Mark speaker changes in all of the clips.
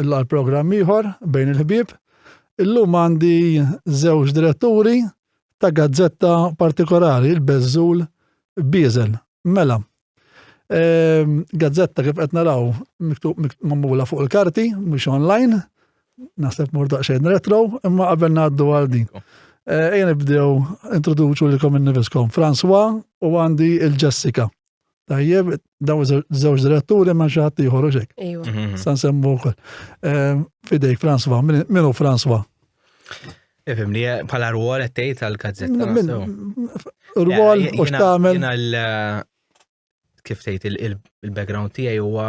Speaker 1: illa għal programm ieħor bejn il-ħbieb. Illum għandi żewġ diretturi ta' gazzetta partikolari, il-Bezzul Bizel. Mela, ehm, gazzetta kif qed naraw mamula fuq il-karti, mhux online, naħseb mur daqsxejn retro, imma qabel ngħaddu għal din. Eh, ejja nibdew introduċu lilkom innifiskom. François u għandi il-Jessica. Tajjeb, daw żewġ diretturi ma xi ħadd ieħor hekk. Mhm. Sa nsemmu
Speaker 2: wkoll.
Speaker 1: Ehm, fidejk Franswa, minu Franswa?
Speaker 2: Ifim li bħala rwol qed tgħid għall-kazzetta.
Speaker 1: Rwol u x'tagħmel. Eh,
Speaker 2: kif tgħid il-background tiegħi huwa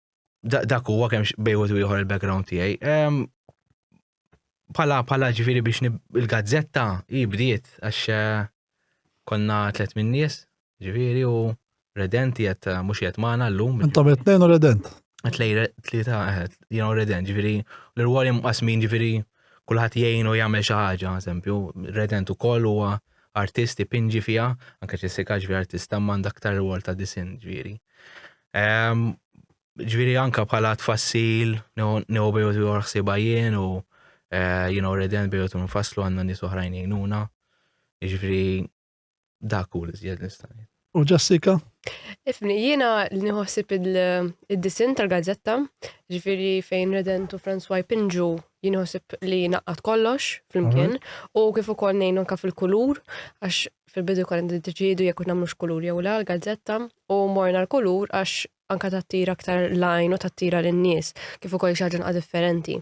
Speaker 2: dak huwa kemm bejwet u ieħor il-background tiegħi. Pala pala ġifieri biex il-gazzetta hi bdiet għax eh, konna tlet minn nies, ġifieri u Redent jgħet eh, mhux jgħet magħna llum. Intom qed tnejn u Redent.
Speaker 1: Tlej tlieta
Speaker 2: eh, jien u Redent, ġifieri l-irwol imqasmin ġifieri kulħadd jgħin u jagħmel xi ħaġa, eżempju, Redent ukoll huwa artisti pinġi fiha, anke Jessica ġifieri artista m'għandha aktar rwol ta' disin ġifieri. Ġviri anka bħala tfassil, new bejot u ħsiba jien u eh, jien u reden bejot u nfasslu għanna nis oħrajn jgħinuna. Ġviri dak u l-izjed nistani. U Jessica?
Speaker 1: Ifni,
Speaker 3: jiena nħossib il-disin tal-gazzetta, ġifiri fejn Redent u François Pinġu jinħossib li naqqat kollox fl-imkien mhm. u kif ukoll nejnu anka fil-kulur għax fil-bidu konna niddeċiedu jekk nagħmlux kulur jew la l-gazzetta u morna l-kulur għax anka tattira aktar lajn u tattira lin-nies kif ukoll xi ħaġa differenti.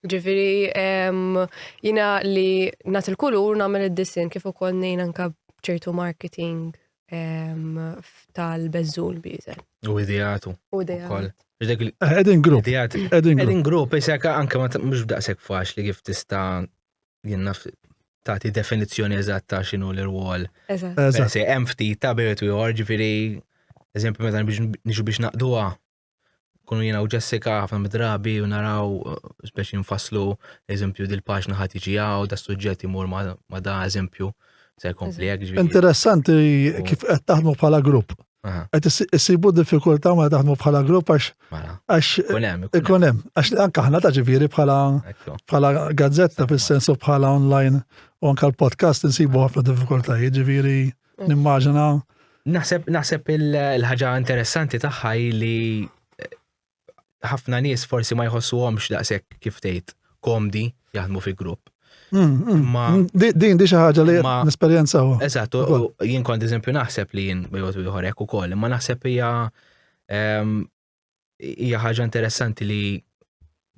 Speaker 3: Ġifieri jiena li nagħti l-kulur nagħmel id-disin kif ukoll ngħin anka ċertu marketing tal-bezzul biżel. U idejatu.
Speaker 2: U idejatu.
Speaker 1: Edin grupp. Edin grupp,
Speaker 2: jisek anke mux daqsek faċ li kif tista jien naf tagħti definizzjoni eżatta x'inhu l-irwol. Eżatt. Eżatt. Hemm
Speaker 3: ftit ta'
Speaker 2: biret ieħor, ġifieri eżempju meta niġu biex naqduha kunu jiena u Jessica ħafna drabi u naraw speċi nfasslu eżempju dil-paġna ħadd iġi hawn da suġġett imur ma da eżempju se jkompli hekk. Interessanti
Speaker 1: kif qed taħdmu bħala grupp. Qed issibu diffikultà ma taħdmu bħala grupp għax mela. għax ikun hemm għax anke aħna ta' ġifieri bħala bħala gazzetta fis-sensu bħala online u anke l-podcast insibu ħafna diffikultajiet ġifieri mm. nimmaġina. Naħseb
Speaker 2: naħseb il-ħaġa interessanti tagħha li ħafna nies forsi ma jħossuhomx daqshekk kif tgħid komdi jaħdmu fi grupp. Mm, mm. Ma mm,
Speaker 1: din di xi ħaġa li nesperjenza u. Eżatt,
Speaker 2: jien kont eżempju naħseb li jien bejgħod ieħor hekk ukoll, imma naħseb hija ehm, hija ħaġa interessanti li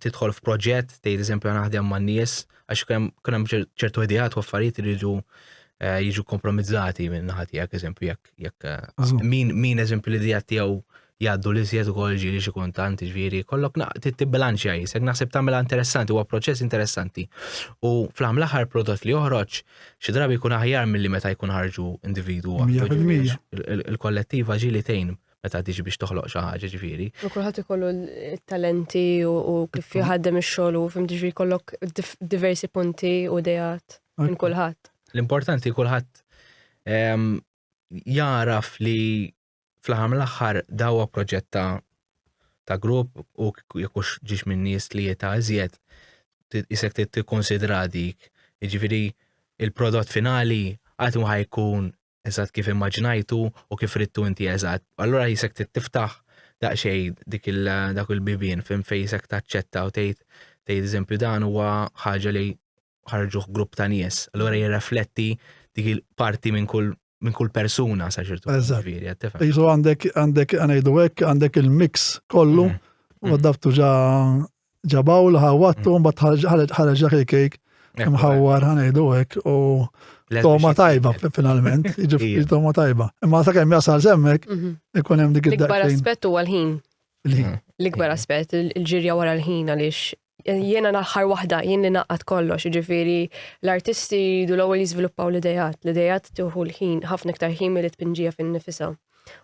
Speaker 2: tidħol f'proġett, tgħid eżempju naħdem man nies għax kien hemm ċertu ideat u affarijiet li jiġu eh, jiġu kompromizzati minn naħa tiegħek eżempju jekk jekk eh, min min eżempju l-idea tiegħu jgħaddu l-iżjed ukoll ġieli xi kuntant, ġifieri kollok tibbilanċja jisek, naħseb tagħmilha interessanti, huwa proċess interessanti. U fl-aħħar mill-aħħar prodott li joħroġ xi drabi jkun aħjar milli meta jkun ħarġu individwu Il-kollettiva ġieli tgħin meta tiġi biex toħloq xi ħaġa ġifieri. U kulħadd ikollu
Speaker 3: t-talenti u kif jħaddem ix-xogħol u fim ġifieri kollok diversi punti u dejat minn kulħadd. L-importanti kulħadd
Speaker 2: ehm, jaraf li fl-aħħar mill-aħħar dawa proġett ta' ta' grupp u jekk hux ġiex minn nies li jeta' iżjed isek tikkonsidra dik. Jiġifieri il-prodott finali qatt ma ħajkun eżatt kif immaġinajtu u kif rittu inti eżatt. Allura jisek tiftaħ daqsxejn dik il dak il-bibien fejn fejn jisek taċċetta u tgħid tgħid eżempju dan huwa ħaġa li ħarġuh grupp ta' nies, allura jirrefletti dik il-parti minn kull minn kull persuna sa ċertu ġifieri qed tifhem. Isu
Speaker 1: għandek għandek ngħidu hekk għandek il-mix kollu mm. u mm. dabtu ġa ġabaw l ħawattu mm. mbagħad ħareġ dak il-kejk mħawwar ħanejdu hekk u toma tajba finalment, jiġifieri toma tajba. Imma sa kemm jasal semmek mhm. ikun hemm dik id-daqqa. L-ikbar aspett
Speaker 3: huwa l-ħin. L-ikbar aspett, il-ġirja
Speaker 1: wara
Speaker 3: l-ħin għaliex Jiena l-aħħar waħda, jien li naqgħad kollox, jiġifieri l-artisti jridu l-ewwel jiżviluppaw l-idejat, l-idejat tieħu l-ħin, ħafna iktar ħin milli tpinġija fin-nifisha.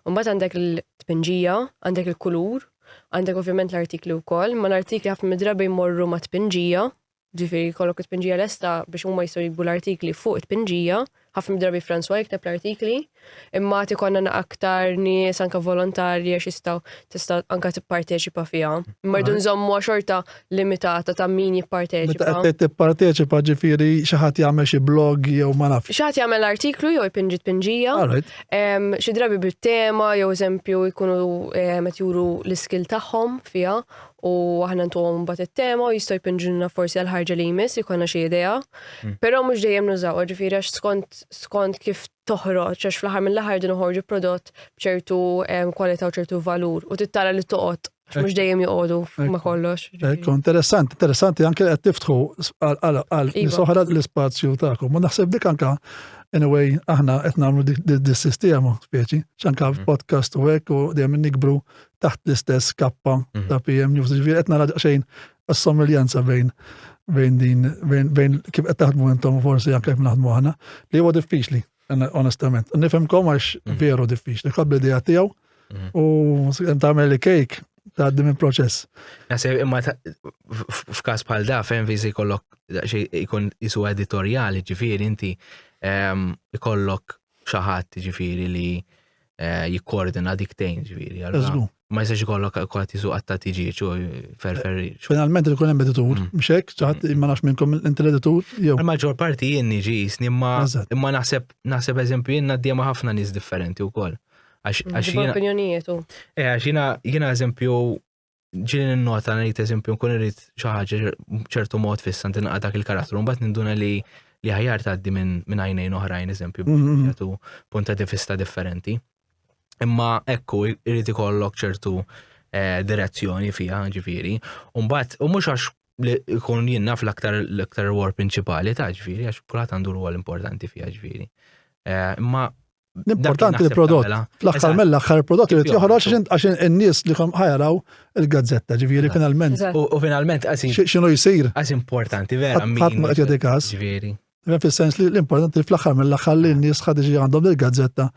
Speaker 3: Mbagħad għandek il-tpinġija, għandek il-kulur, għandek ovvjament l-artikli wkoll, ma l-artikli ħafna mid-drabi jmorru ma' tpinġija, ġifieri jkollok it-tpinġija lesta biex huma jistgħu jikbu l-artikli fuq it-tpinġija, ħafna drabi François jikteb l-artikli, imma ti konna aktar nies anka volontarji għax jistaw tista' anka tipparteċipa fiha. Imma rridu nżommu xorta limitata ta' min jipparteċipa. Meta qed tipparteċipa
Speaker 1: ġifieri xi ħadd jagħmel xi blog jew ma nafx. Xi ħadd jagħmel artiklu
Speaker 3: jew jpinġi tpinġija. Xi drabi bit-tema jew eżempju jkunu qed juru l-iskil tagħhom fiha u aħna ntuhom mbagħad it-tema u jistgħu jpinġunna forsi għal ħarġa li jmiss jkollna xi idea. Però mhux dejjem nużawha, ġifieri għax skont skont kif toħroġ għax fl-aħħar mill-aħħar din uħorġu prodott b'ċertu kwalità u ċertu valur u tittara li toqgħod mhux dejjem joqogħdu ma kollox. Ekku, interessanti, interessanti
Speaker 1: anke qed tiftħu għal iva. soħra l-ispazju tagħkom. U naħseb dik anka anyway aħna qed nagħmlu dis-sistema speċi, x'anka mm. podcast u hekk u dejjem nikbru taħt l-istess kappa mm. ta' PM News, ġifieri qed nara xejn assomiglianza bejn bejn din, bejn, bejn kif qed taħdmu intom forsi anke kif naħdmu aħna, li huwa diffiċli, onestament. Nifhimkom għax mm. veru diffiċli, qabli idea tiegħu mm. u tagħmel li kejk tgħaddi minn proċess. Nasib imma
Speaker 2: f'każ bħal da fejn viżi kollok ikun isu editorjali ġifieri inti ehm, ikollok xi ħadd ġifieri li eh, jikkoordina dik tejn ġifieri. allura Eżgu. Ma jistax ikollok kwad jisu qatta tiġieġ u ferfer. Finalment il kunem
Speaker 1: editur, Mm. mhux hekk, ċaħat ma nafx minnkom inti l-editur jew. Il-maġġor parti jien
Speaker 2: niġi jisni imma Eżatt. imma naħseb naħseb eżempju jien għaddija ma' ħafna nies differenti wkoll. Għax għax Ġibba jiena opinjonijiet u.
Speaker 3: eh, għax jiena
Speaker 2: jiena eżempju ġili n-nota ngħid eżempju nkun irid xi ħaġa ċertu mod fissa ntinqa dak il-karattru, mbagħad ninduna li li ħajar tgħaddi minn min għajnejn oħrajn eżempju mhm. jagħtu punta di fista differenti. Imma ekku irid ikollok ċertu eh, direzzjoni fiha ġifieri, u mbagħad u mhux għax li jkun jien naf l-aktar l-aktar war prinċipali ta' ġifieri għax kulħadd għandu rwol importanti fiha ġifieri. Eh, imma Importanti
Speaker 1: li prodott. Mela. Fl-axħar mela axħar prodott li joħroġ għax in-nies li kom ħajaraw il-gazzetta ġifieri finalment. U finalment
Speaker 2: għasin. X'inhu jsir?
Speaker 1: Għax importanti
Speaker 2: vera. Ħadd ma qed każ.
Speaker 1: Ġifieri. Fis-sens
Speaker 2: li
Speaker 1: l-importanti li fl-axħar mela axħar li n-nies ħad iġi għandhom il-gazzetta.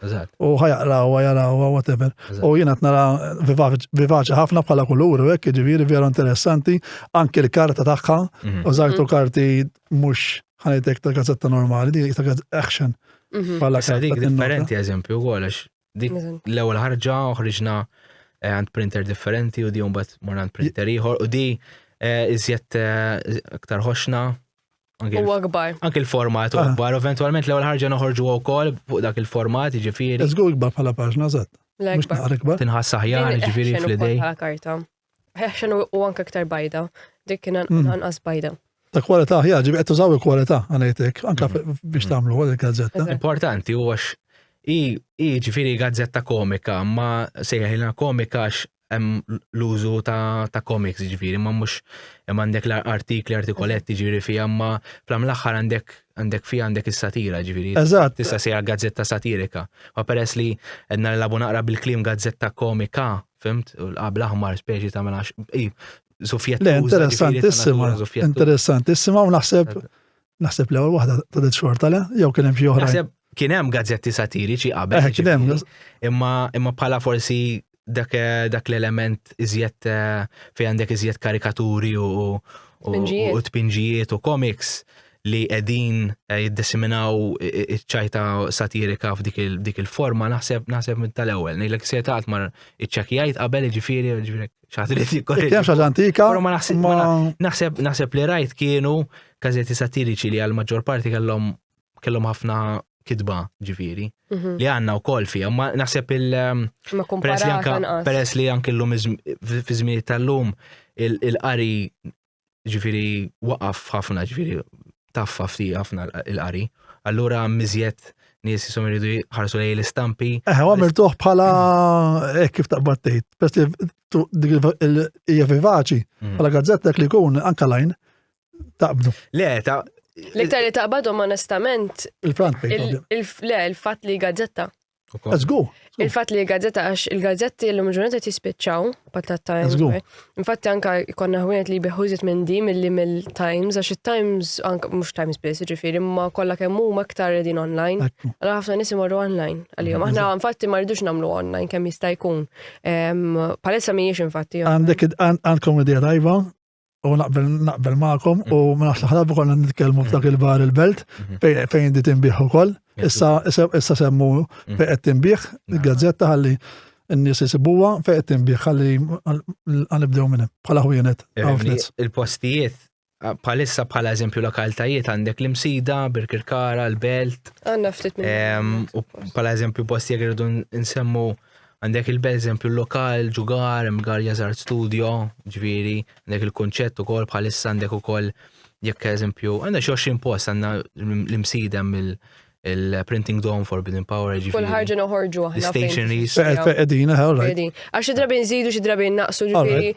Speaker 1: U ħajaqraw, ħajaraw, whatever. U jiena nara vivaċi ħafna bħala kulur, hekk ġifieri vera interessanti, anke l-karta tagħha, mhm. użajtu karti mhux ħanejtek ta' gazzetta normali, dik ta' action. Mhm. Bħala sa dik
Speaker 2: differenti eżempju wkoll għax dik l-ewwel ħarġa uħriġna eh, għand printer differenti u di mbagħad mor għand printer ieħor u di eh, iżjed eh, aktar ħoxna U
Speaker 3: akbar. Anki l-format u ah.
Speaker 2: akbar, eventualment l-ewwel ħarġa noħorġu wkoll fuq dak il-format, jiġifieri. Iżgur ikbar bħala paġna
Speaker 1: żgħat. Mhux naqra ikbar. Tinħass aħjar, jiġifieri
Speaker 2: fl-idej.
Speaker 3: Ħeħxen u anke iktar bajda, dik kien mm. anqas bajda. Ta' kwalità, ja,
Speaker 1: ġibi qed tużaw il-kwalità għanajtek, anke mm. biex tagħmlu għal il-gazzetta. Importanti u għax
Speaker 2: i ġifieri gazzetta komika, ma sejħilna komika għax hemm l-użu ta' komiks ġifieri, ma mhux hemm għandek l-artikli artikoletti ġifieri fi ma flam l-aħħar għandek għandek fi għandek is-satira ġifieri. Eżatt. Tista' sejja
Speaker 1: gazzetta
Speaker 2: satirika. Ma peress li għedna l-labu naqra bil-klim gazzetta komika Fimt, u l-qabla ħmar speċi ta' mela zufjetta. Le, interessantissima,
Speaker 1: interessantissima, u naħseb, naħseb l ewwel waħda ta' dit xorta le, jew kien hemm xi oħra. Naħseb kien hemm gazzetti
Speaker 2: satiriċi qabel. Eh, kien hemm. Imma imma bħala forsi dak eh, dak l-element iżjed eh, fejn għandek iżjed karikaturi u u tpinġijiet u komiks li qegħdin eh, jiddisiminaw iċ-ċajta satirika f'dik il-forma naħseb naħseb minn tal-ewwel. Ngħidlek se taqgħod mar iċċekjajt qabel jiġifieri jiġifieri xaħtri jikkorri. Kien xaġa
Speaker 1: antika. Ma naħseb
Speaker 2: naħseb li rajt kienu każetti satiriċi li għal-maġġor parti kellhom kellhom ħafna kitba ġifieri mhm. li għandna wkoll fija, ma naħseb il ehm, peress li anke l-lum fi żmien tal-lum il-qari ġifiri waqaf ħafna ġifiri taffa fti ħafna il-qari. Allura mizjet nies jisom iridu ħarsu lej l-istampi. Eħe, għamil tuħ bħala
Speaker 1: eh, kif taqbad tgħid. Pes li hija vivaċi mm. bħala gazzetta li kun anka lajn taqbdu. Le, ta'
Speaker 2: L-iktar li
Speaker 3: taqbadhom
Speaker 1: onestament.
Speaker 3: Il-front page. Le,
Speaker 1: il-fatt li
Speaker 3: gazzetta.
Speaker 1: Għazgu. Il-fat li gazzetta,
Speaker 3: għax il-gazzetti l-lum ġurnata tispiċċaw, patat Times.
Speaker 1: Infatti anka
Speaker 3: konna ħwienet li biħużit minn di mill-li mill-Times, għax il-Times, anka mux Times biss, ġifiri, ma kolla kemmu ma ktar edin online. Għalla ħafna nisim
Speaker 1: għorru
Speaker 3: online. Għalijom, aħna infatti ma rridux namlu online, kem jista' jkun. Palessa miħiex infatti. Għandek, għandkom id-dija
Speaker 1: tajba, U naqbel naqbel magħkom u mm. ma nafx ħrabu konna nitkellmu f'dak mm. il-bar il-belt mm-hmm. fejn di tinbih ukoll. Issa issa semmu mm. fejn qed tinbih il-gazzetta ħalli n-nies isibuha fejn qed tinbih ħalli għanibdew minn bħala ħwienet. Il-postijiet
Speaker 2: palissa bħala eżempju lokaltajiet għandek l-imsida, Birkirkara, l-belt. Għanna ftit
Speaker 3: minn. U bħala eżempju
Speaker 2: postijiet irridu nsemmu. In Għandek il eżempju lokal, ġugar, mgarja zart studio, ġviri, għandek il-konċett u kol bħalissa għandek u kol jekk eżempju, għandek xoxin post għanna l-imsidem il-printing dome for Forbidden Power ġviri. Kull ħarġa noħorġu għahna.
Speaker 3: Stationaries.
Speaker 2: Edina, għawlaj.
Speaker 1: Għax id-drabi nżidu, xi
Speaker 3: drabi naqsu ġviri.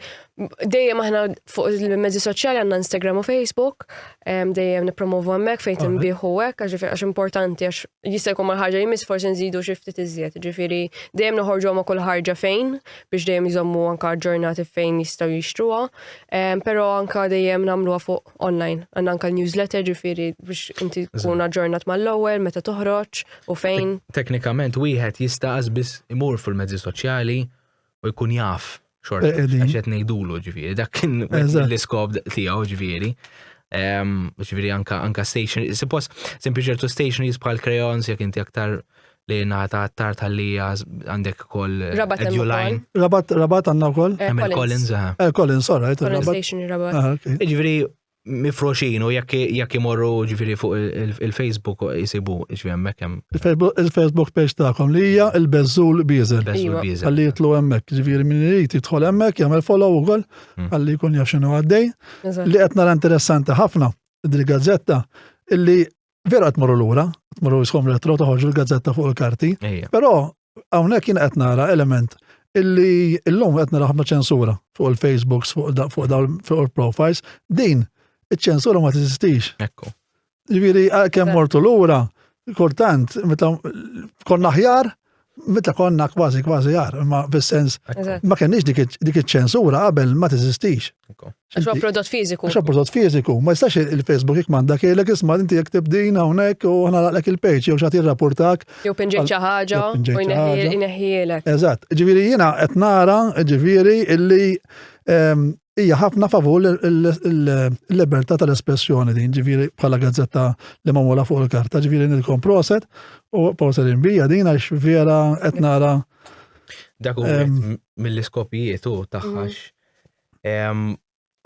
Speaker 3: Dejjem aħna fuq il-mezzi soċjali għanna Instagram u Facebook, dejjem nipromovu għemmek fejn timbiħu għek, għax importanti għax jista' jkun mal-ħarġa jmiss forsi nżidu xi ftit iżjed, ġifieri dejjem noħorġu ma' kull ħarġa fejn biex dejjem jżommu anka ġurnati fejn jistgħu jixtruha, ehm, però anka dejjem nagħmluha fuq online, għandna anka newsletter ġifieri biex inti tkun aġġornat mal-ewwel meta toħroġ u fejn. Teknikament wieħed
Speaker 2: jista' biss imur fil-mezzi soċjali u jkun jaf xorta għax qed ngħidulu ġifieri, dak kien l-iskop tiegħu ġifieri. Ġifieri anka anka station, suppos sempliċi ċertu station bħal crayons jekk inti aktar li naħta għattar tal-lija għandek kol Rabat line. Rabat, rabat għanna
Speaker 1: kol. Għamil Collins, għamil
Speaker 2: Collins, sorry. Collins
Speaker 1: Station, rabat.
Speaker 3: Ġviri,
Speaker 2: mifroxin u jekk imorru ġifiri fuq il-Facebook jisibu ġifiri hemmhekk hemm. Il-Facebook page
Speaker 1: tagħkom li hija il-Beżul Bieżel. Għalli jitlu hemmhekk, ġifiri minn irid jidħol hemmhekk jagħmel follow ukoll hmm. għalli jkun jaf x'inhu għaddej. Li qed nara interessanti ħafna dil-gazzetta illi Vera qed morru lura, qed morru jiskom retro toħorġu l-gazzetta fuq il-karti. Però hawnhekk jien qed nara element illi illum qed nara ħafna ċensura fuq il-Facebooks, fuq dawn fuq il-profiles, din iċ-ċensura ma tiżistix. Ekku.
Speaker 2: Ġifieri
Speaker 1: kemm mortu lura, kultant meta konna ħjar, Meta konna kważi kważi għar, ma bis-sens, ma kenniex dik iċ-ċensura qabel ma teżistix. Għax prodott
Speaker 3: fiżiku. Għax prodott fiżiku, ma
Speaker 1: jistax il-Facebook jekk m'għandha kielek isma' inti jekk tibdin hawnhekk u aħna laqlek il-page jew xagħti rapportak. Jew pinġiet xi
Speaker 3: ħaġa u jneħħielek. Eżatt, ġifieri
Speaker 1: jiena qed nara ġifieri illi ehm, hija ħafna favur il-libertà tal-espressjoni din, ġifieri bħala gazzetta li magħmula fuq il-karta, ġifieri nilkom proset u proset imbija din għax vera qed nara. Dak
Speaker 2: mill-iskopijiet u taħħax. Mm.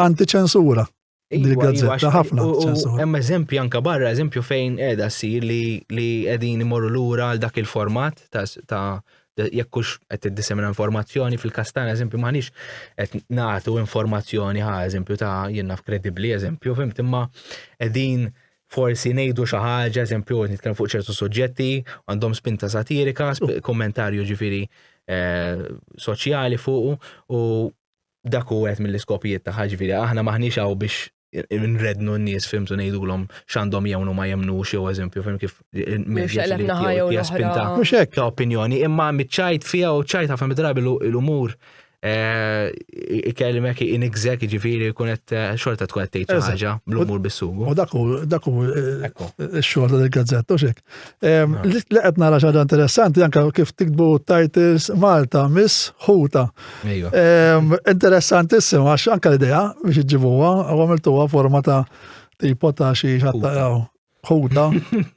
Speaker 1: Antiċensura. Iva, iva, ħafna. Hemm eżempju anka barra,
Speaker 2: eżempju fejn qiegħda ssir li qegħdin imorru lura għal dak il-format ta' jekk hux qed tiddisemina informazzjoni fil-każ tagħna eżempju m'aħniex qed nagħtu informazzjoni ħa eżempju ta' jien naf kredibbli eżempju fimt imma qegħdin forsi ngħidu xi ħaġa eżempju nitkellem fuq ċertu suġġetti għandhom spinta satirika, kommentarju ġifieri eh, soċjali fuq u dak u għet mill-iskopijiet ta' ħagġviri, aħna maħniċ għaw biex nrednu n-nies fimtu ngħidulhom x'għandhom jemnu ma jemnux jew eżempju fim kif il-medja jaspinta.
Speaker 1: Mhux hekk ta' opinjoni, imma
Speaker 2: miċċajt fija u ċajt ħafna midrabi l-umur eh, ikelmek inigżek ġifiri kunet eh, xorta tkun qed tgħid ħaġa bl-umur bis-sugu. U dak hu
Speaker 1: eh, x-xogħol tal-gazzetta u xek. Li qed nara xaġa interessanti anke kif tikbu titles Malta Miss Huta. Interessantissima għax anke l-idea biex iġibuha u għamiltuha forma ta' tipo ta' xi xattaqaw. Huta,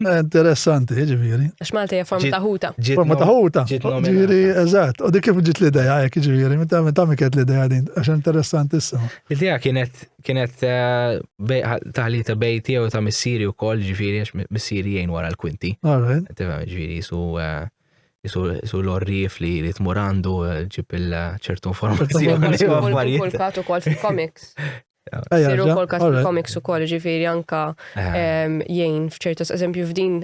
Speaker 1: interessanti, ġiviri. Għax Malta hija forma ta'
Speaker 3: huta. Forma ta' huta.
Speaker 1: Ġiviri, eżatt. U dik kif ġiet l-idea hekk ġiviri, meta miket l-idea din, għax interessantissima. L-idea kienet
Speaker 2: kienet taħlita bej tiegħu ta' missieri wkoll ġifieri għax missieri jgħin wara l-kwinti. Tifhem ġifieri jisu jisu l-orrif li li tmur għandu ġib il-ċertu informazzjoni. Kull kat
Speaker 3: ukoll fil-comics. Siru kol kas komiks u kol ġifiri anka jgħin fċertas, eżempju f'din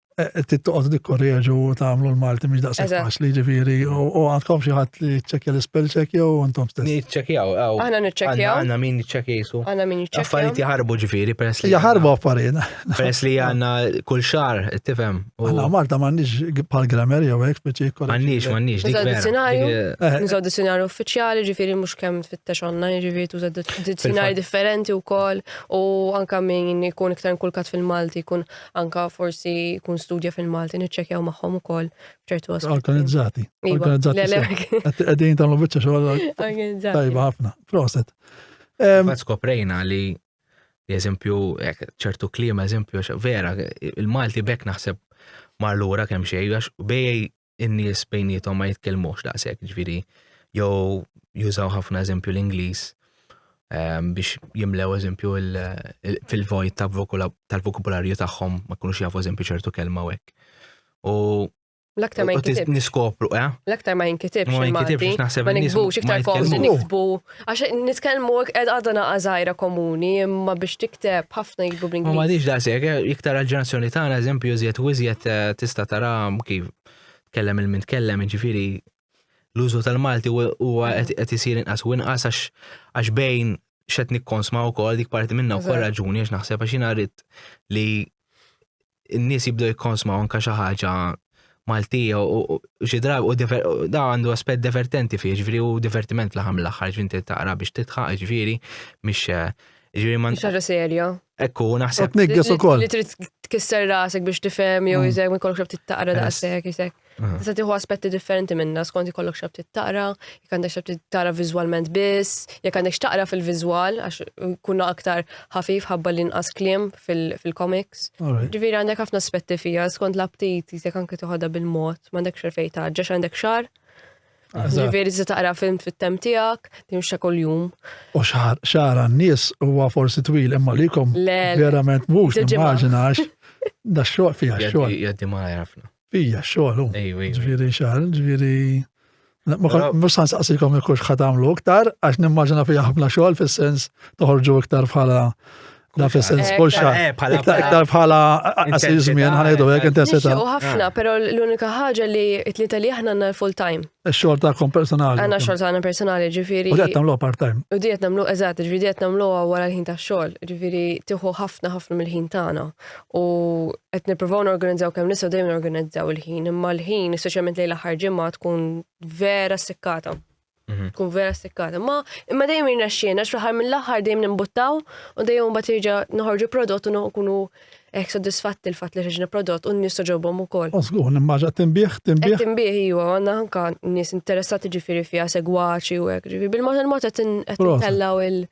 Speaker 1: tittoqgħod dikkorreġu u tagħmlu l-Malti mhix daqshekk faċli ġifieri u għandkom xi ħadd li ċċekkja l-ispell check jew intom stess. Niċċekkjaw, aħna
Speaker 2: niċċekkjaw.
Speaker 3: Għandna min jiċċekkjsu.
Speaker 2: Għandna min jiċċekkjaw. Affarijiet
Speaker 3: jaħarbu ġifieri
Speaker 2: peress
Speaker 3: li.
Speaker 2: Jaħarbu affarijiet.
Speaker 1: Peress li għandna
Speaker 2: kull xar, tifhem. Għandna Malta m'għandniex
Speaker 1: bħal grammar jew hekk speċi jkollha. M'għandniex, m'għandniex. Nużaw
Speaker 2: dizzjonarju, eh. nużaw
Speaker 3: dizzjonarju
Speaker 2: uffiċjali
Speaker 3: ġifieri mhux kemm tfittex online ġifieri tuża dizzjonarji differenti wkoll u anke min jkun iktar inkulkat fil-Malti jkun Anka forsi jkun studja fil-Malti niċċekjaw magħhom ukoll f'ċertu aspetti. Organizzati. Iva,
Speaker 1: Organizzati.
Speaker 3: Qegħdin tagħmlu
Speaker 1: biċċa xogħol. Tajba
Speaker 3: ħafna.
Speaker 1: Proset. Fatt
Speaker 2: skoprejna li eżempju ċertu klima eżempju vera il-Malti bekk naħseb mar lura kemm xejn għax bej in-nies bejnietom ma jitkellmux daqshekk, ġifieri jew jużaw ħafna eżempju l-Ingliż ehm, biex jimlew eżempju fil-vojt tal-vokabularju tagħhom ma kunux jafu eżempju ċertu kelma u hekk. U L-aktar ma
Speaker 3: jinkitibx. Niskopru, eh?
Speaker 2: L-aktar ma jinkitibx.
Speaker 3: Ma jinkitibx, naħseb. Ma
Speaker 2: ninkbux,
Speaker 3: iktar forsi niktbu Għax nitkellmu qed għadha naqa' żgħira komuni, imma biex tikteb ħafna jibdu bl Ma m'għadix daqshekk, eh, iktar
Speaker 2: għall-ġenerazzjoni tagħna eżempju iżjed u iżjed eh, tista' tara kif tkellem il min tkellem, jiġifieri l-użu tal-Malti huwa qed isir inqas u inqas għax bejn xed nikkonsma wkoll dik parti minna wkoll raġuni għax naħseb għax
Speaker 3: jiena rrid
Speaker 2: li n-nies jibdew jikkonsmaw anke xi ħaġa Maltija u xi drabi u da għandu aspett divertenti fih, ġifieri u divertiment l-ħam l-aħħar ġvinti taqra biex titħaq, ġifieri mhix eh, ġifieri ma. Xaġa serja.
Speaker 3: Ekku, naħseb.
Speaker 2: Tnigges ukoll. Li trid
Speaker 1: tkisser
Speaker 3: rasek biex tifhem jew mm. iżgħek ma jkollokx taqra daqshekk isek. Tista' tieħu aspetti differenti minna skont ikollok xi ftit taqra, jekk għandek xi ftit tara viżwalment biss, jekk għandek x'taqra fil-viżwal għax kunna aktar ħafif ħabba li nqas kliem fil-komiks. Ġifieri għandek
Speaker 1: ħafna aspetti
Speaker 3: fija skont l-aptit jisek anke toħodha bil-mod, m'għandek xerfej taġġa għandek xar. Ġifieri se taqra film fit-tem tiegħek, timxa kuljum. U xar
Speaker 1: xar għan-nies huwa forsi twil imma likom verament
Speaker 3: mhux
Speaker 1: immaġinax da xogħol fiha xogħol. Jaddi ma jafna.
Speaker 2: Ija, xogħol.
Speaker 1: Ġviri xar,
Speaker 2: ġviri.
Speaker 1: Mux san saqsikom il kux ħatamlu iktar, għax nimmaġina fija ħafna xogħol fis-sens toħorġu iktar bħala Da fi sens eh, kull xar. Eh, iktar bħala għasir żmien ħanajdu hekk intensità. U ħafna, ah. però
Speaker 3: l-unika ħaġa li t-tlieta li aħna għandna full time. Ix-xogħol tagħkom personali.
Speaker 1: Għandna xogħol tagħna personali,
Speaker 3: ġifieri. U qed nagħmlu part
Speaker 1: time. U diet nagħmlu eżatt,
Speaker 3: ġifieri diet nagħmlu wara l-ħin tax-xogħol, ġifieri tieħu ħafna ħafna mill-ħin tagħna. u qed nippruvaw norganizzaw kemm nistgħu dejjem norganizzaw il-ħin, imma l-ħin speċjalment lejn l-aħħar ġimgħa tkun vera sekkata. Mhm. Tkun vera sekkata. Ma imma dejjem jirnexxiena x'fl-aħħar mill-aħħar dejjem nimbuttaw u dejjem mbagħad jerġa' noħorġu prodott u nkunu hekk sodisfatti l-fatt li ħriġna prodott u n-nies toġobhom ukoll. Osgur, nimmaġa tinbih,
Speaker 1: tinbih. Tinbih iwa,
Speaker 3: għandna anka nies interessati ġifieri fiha segwaċi u hekk, ġifieri bil-mod il-mod qed intellaw il-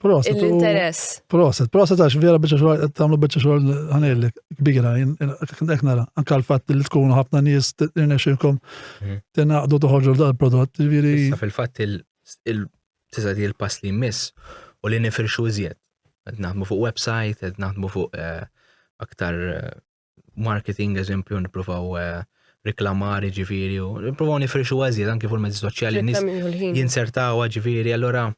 Speaker 3: Proset. L-interess. Proset,
Speaker 1: proset għax vera bieċa xogħol qed tagħmlu bieċa xogħol ħanejlek kbira hekk nara. Anke l-fatt li tkunu ħafna nies tirnexxilkom mhm. tingħaqdu toħorġu dal-prodott. Fil-fatt
Speaker 2: il-tisa di l-pass li jmiss u li nifirxu iżjed. Qed naħdmu fuq website, qed naħdmu fuq eh, aktar eh, marketing eżempju nippruvaw eh, reklamar ġifiri u nippruvaw nifrixu għażiet anki fuq mezzi soċjali nis jinsertaw ġifiri allora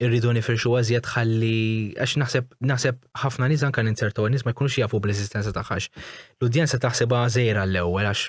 Speaker 2: irridu nifrixu għażiet ħalli għax naħseb naħseb ħafna nies anke ninsertaw nies ma jkunux jafu bl-eżistenza tagħha. L-udjenza taħseb għażejra l-ewwel għax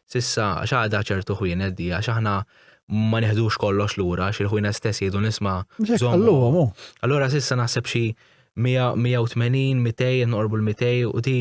Speaker 2: S'issa għax għadha ċertu ħwienet di għax aħna ma neħdux kollox lura għax il-ħwienet stess jgħidu nisma' żommhom.
Speaker 1: Allura s'issa
Speaker 2: naħseb xi 180, 200, noqorbu l-200 u di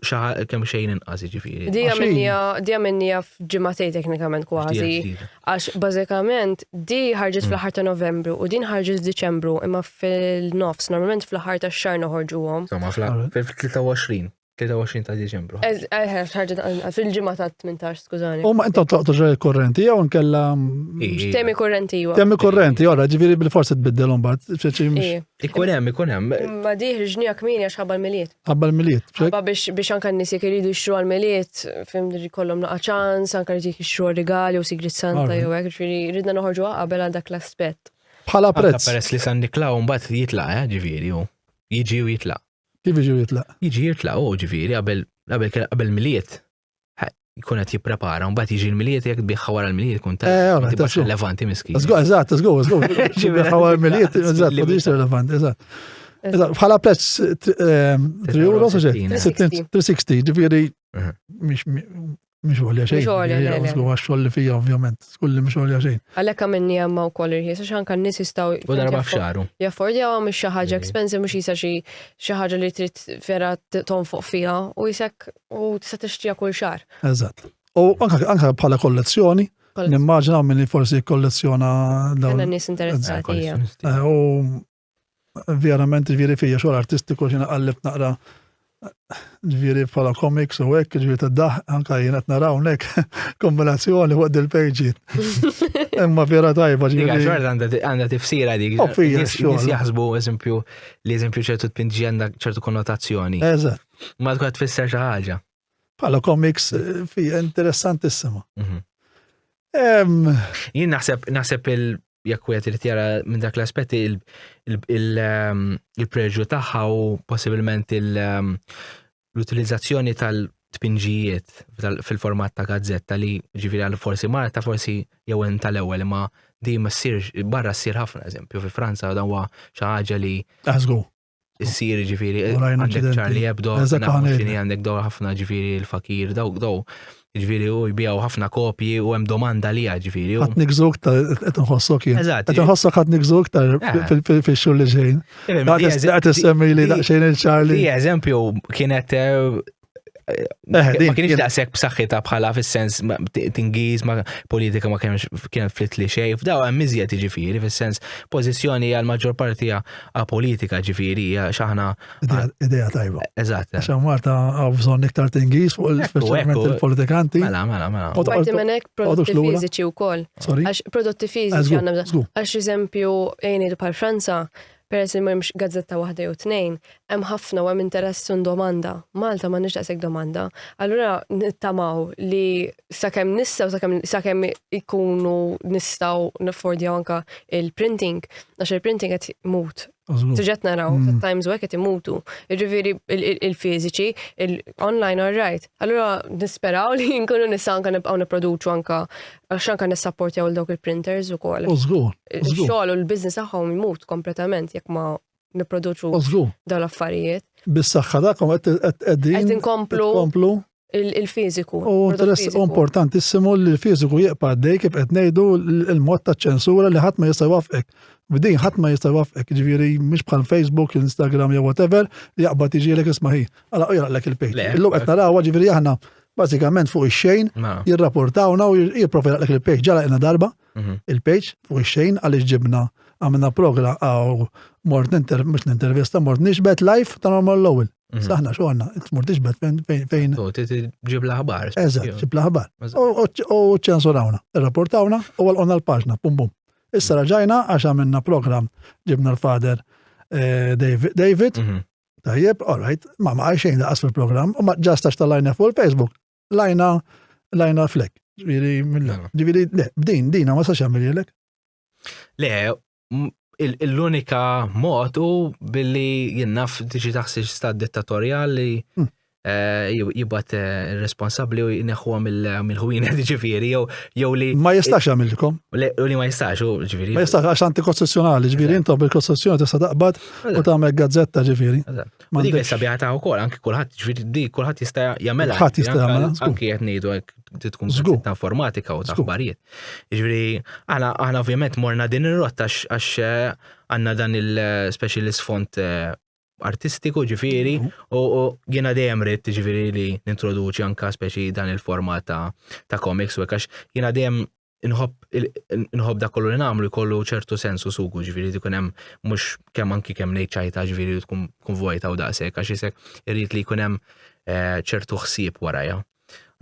Speaker 2: xaħa kemm xejn inqas ġifiri. Dija
Speaker 3: minnija f'ġimatej teknikament kważi. Għax bażikament di ħarġet mm. fl-ħar ta' novembru u din ħarġet f'Diċembru imma fil-nofs, normalment
Speaker 2: fl-ħar
Speaker 3: ta' xar noħorġu għom. Somma fl-23.
Speaker 2: 23 ta' Diċembru. Eħe, ħarġet
Speaker 3: fil-ġimgħa ta' 18, skużani. U ma intom toqtu
Speaker 1: ġej korrenti jew nkella mm, temi
Speaker 3: korrenti jew. Temi korrenti, ora ġifieri
Speaker 1: bil-forsi tbiddilhom bad. Ikun hemm, ikun
Speaker 2: hemm. Ma diħ ġnija
Speaker 3: kmini għax ħabba l-miliet. Ħabba l-miliet. Ħabba
Speaker 1: biex anka
Speaker 3: n-nies jekk iridu jixtru għall-miliet, fim kollhom naqa' ċans, anka jrid jixtru rigali u sigrit santa jew hekk, ġifieri ridna noħorġu qabel għal dak l-aspett. Bħala prezz. Peress
Speaker 1: li San Niklaw
Speaker 2: mbagħad jitlaq, eh, ġifieri jiġi u jitlaq. Kif jiġi jitlaq?
Speaker 1: Jiġi jitlaq u ġifieri
Speaker 2: qabel qabel miliet jkun qed jipprepara, mbagħad jiġi l-miliet jekk biħħa wara l-miliet kun ta' tibqa' relevanti miskin. Żgur, eżatt, żgur, żgur.
Speaker 1: Biħħa wara l-miliet, eżatt, ma tibqax relevanti, eżatt. Bħala prezz 3 euro, 360, ġifieri Mhix għolja xejn. Mhix għolja xejn. Għax eh. xogħol li fija ovvjament, skulli mhix għolja xejn. Għalhekk għamilni hemm
Speaker 3: wkoll irħies għax anke n-nies jistgħu. U darba f'xaru.
Speaker 2: Jaffordjaw għam xi
Speaker 3: ħaġa expensive mhux jisa xi xi ħaġa li trid vera tonfoq fiha u jisek u tista' tixtrija kull xahar. Eżatt. U
Speaker 1: anke bħala kollezzjoni, nimmaġina minn forsi kollezzjona dawn. Għandna nies
Speaker 3: interessati. Eh, u
Speaker 1: Verament, ġviri fija xogħol artistiku xina qallibt naqra ġviri bħala komiks u hekk, ġviri ta' daħ, anka jien qed naraw nek kombinazzjoni fuq dil-pejġi. Imma vera tajba ġviri. Ġviri għandha tifsira
Speaker 2: dik. U fija xogħol. Jaħsbu eżempju li eżempju ċertu tpinġi għandha ċertu konnotazzjoni. Eżatt. Ma
Speaker 1: tkun tfisser
Speaker 2: xi ħaġa. Bħala komiks
Speaker 1: fi interessantissima. Mhm.
Speaker 2: Jien naħseb naħseb il jekk wieħed irid jara minn dak l-aspetti il-preġu tagħha u possibilment l-utilizzazzjoni tal- tpinġijiet fil-format ta' gazzetta li ġifiri għal forsi Marta forsi jew tal-ewwel ma di ma ssirx barra ssir ħafna eżempju fi Franza dan huwa xi ħaġa li Għażgu. issir ġifiri, għandek Charlie Hebdo, għandek daw ħafna ġifiri il-fakir, daw daw. Ġifiri u jbijaw ħafna kopji u hemm domanda li ġifiri. Għat nikżuk ta'
Speaker 1: qed nħossok jien. Eżatt. Qed nħossok għat nikżuk ta' eh. fil-xogħol li ġejn. Qed issemmi li daqsxejn il-Charlie. Eżempju
Speaker 2: kienet eh, Eh, ma kienx daqshekk b'saħħitha bħala fis-sens tingiż ma politika ma kienx kienet flit li xejn f'daw hemm iżjed jiġifieri fis-sens pożizzjoni għal maġġor parti a politika ġifieri x'aħna idea tajba.
Speaker 1: Eżatt. Għax Marta
Speaker 2: hawn
Speaker 1: bżonn iktar tingiż fuq il-speċjalment il-politikanti. Mela, mela, mela. Parti
Speaker 2: minn hekk
Speaker 3: prodotti fiżiċi wkoll. Għax prodotti fiżiċi għandna għax eżempju għajni bħal Franza Peress li m'hemmx gazzetta waħda jew tnejn, hemm ħafna u hemm interess u domanda. Malta m'għandniex daqshekk domanda. Allura nittamaw li sakemm nistgħu sakemm sakemm ikunu nistgħu naffordjaw anke il-printing, għax il-printing qed imut. Tiġet naraw, times u qed imutu. Jiġifieri il-fiżiċi, il-online all right. Allura nisperaw li nkunu nistgħu anke nibqgħu nipproduċu anke Għax anka nissapportjaw il dawk il-printers ukoll. U żgur. Ix-xogħol u l-business tagħhom imut kompletament jekk ma nipproduċu dawn l-affarijiet. Bis-saħħa tagħkom
Speaker 1: qed qegħdin. Qed inkomplu il-fiżiku.
Speaker 3: U
Speaker 1: importantissimu li l-fiżiku jibqa' dej kif qed ngħidu l-mod ta' ċensura li ħadd ma jista' jwaffqek. B'din ħadd ma jista' jwaffqek, ġifieri mhux bħal Facebook, Instagram jew whatever li jaqbad jiġielek isma' ħi. Għala u jaqlek il-pejt. Illum qed narawha ġifieri aħna bażikament fuq ix-xejn, jirrapportawna u jipprova jaqlek il-page. Ġara qilna darba mhm. il-page fuq ix-xejn għaliex ġibna għamilna progra għaw mort ninter, mux nintervista, mort nixbet live ta' normal l-ewel. Mhm. Saħna xorna, mort nixbet fejn fejn. U ġib
Speaker 2: l-ħabar. Eżat, ġib l-ħabar.
Speaker 1: U ċensurawna, rapportawna u għal-qonna l-paġna, bum bum. Issa raġajna għax għamilna program ġibna l-fader eh, David mhm. Tajjeb, all right, ma ma xejn laqas fil-programm, u ma ġast għax tal-lajna fuq il-Facebook, lajna lajna flek. Ġviri, ġviri, le, b'din, dina ma sax għamil jelek. Le,
Speaker 2: l-unika mod u billi jinnaf tiġi taħsiex sta dittatorjali hmm. jibgħat responsabbli u jneħħuha mill-ħwienet ġifieri jew jew li. Ma jistax jagħmilkom.
Speaker 1: U li ma jistax
Speaker 2: u ġifieri. Ma jistax għax antikostituzzjonali
Speaker 1: ġifieri intom bil-kostituzzjoni tista' taqbad u tagħmel gazzetta ġifieri. Ma dik issa biha
Speaker 2: ta' wkoll anki kulħadd ġifieri di kulħadd jista' jagħmelha. Kulħadd jista' jagħmelha. Anki qed ngħidu hekk tkun ta' informatika u ta' aħbarijiet. Ġifieri aħna aħna ovvjament morna din ir-rotta għax għandna dan il-specialist font eh, artistiku ġifiri u jiena dejjem rrit ġifiri li nintroduċi anka speċi dan il-format ta', ta komiks u għax jiena dejjem nħobb da kollu li namlu jkollu ċertu sensu sugu ġifiri li kunem mux kemm anki kemm nejċajta ġifiri tkun vojta u daqsek għax jisek irrit li kunem eh, ċertu ħsieb waraja.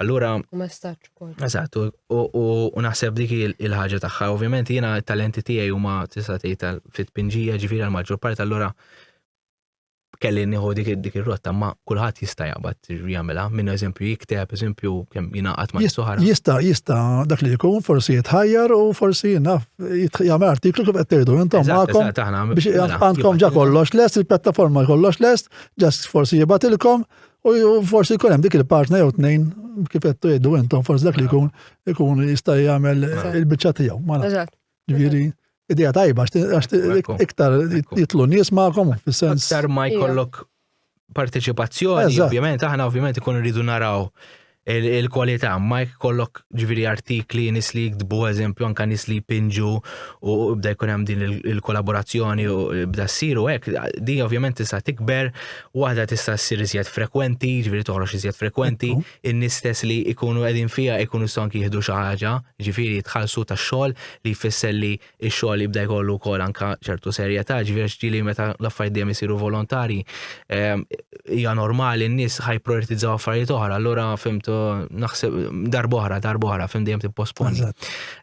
Speaker 2: Allura. U ma staċ
Speaker 3: ukoll. Eżatt, u
Speaker 2: naħseb dik il-ħaġa tagħha. Ovvjament jiena t-talenti tiegħi huma tista' tgħid fit-tpinġija ġifieri għal maġġor part allura kelli nieħu dik dik ir-rotta, ma kulħadd jista' jaqbad jagħmilha. Minn eżempju jikteb, eżempju kemm jingħaqad ma' suħar. Jista' jista' dak
Speaker 1: li jkun forsi jitħajjar u forsi naf jagħmel artiklu kif qed tgħidu intom magħkom biex mela, għandkom ġa kollox lest, il-pjattaforma kollox lest, ġast forsi jibatilkom U forsi jkun hemm dik il-partner jew tnejn kif qed tgħidu intom forsi dak li jkun ikun jista' jagħmel il-biċċa tiegħu. Eżatt. Ġifieri idea tajba għax iktar jitlu nies magħkom fis-sens. Iktar ma jkollok
Speaker 2: parteċipazzjoni, ovvjament aħna ovvjament ikun rridu naraw il-kwalità ma jkollok ġviri artikli nis li jiktbu eżempju anka nis li jpinġu u bda jkun hemm din il-kollaborazzjoni u bda ssir u hekk di ovvjament tista' tikber waħda tista' ssir iżjed frekwenti, ġviri toħroġ iżjed frekwenti, in-nies stess li jkunu qegħdin fiha jkunu jistgħu anki jieħdu xi ħaġa, ġifieri jitħallsu tax-xogħol li jfisser li Ix-xogħol jibda jkollu wkoll anke ċertu serjetà, ġifieri ġieli meta l-affarijiet dejjem isiru volontarji, ehm, hija normali n-nies ħaj prioritizzaw affarijiet oħra, allura fimt naħseb darba oħra, darba oħra, fim dejjem tipposponi.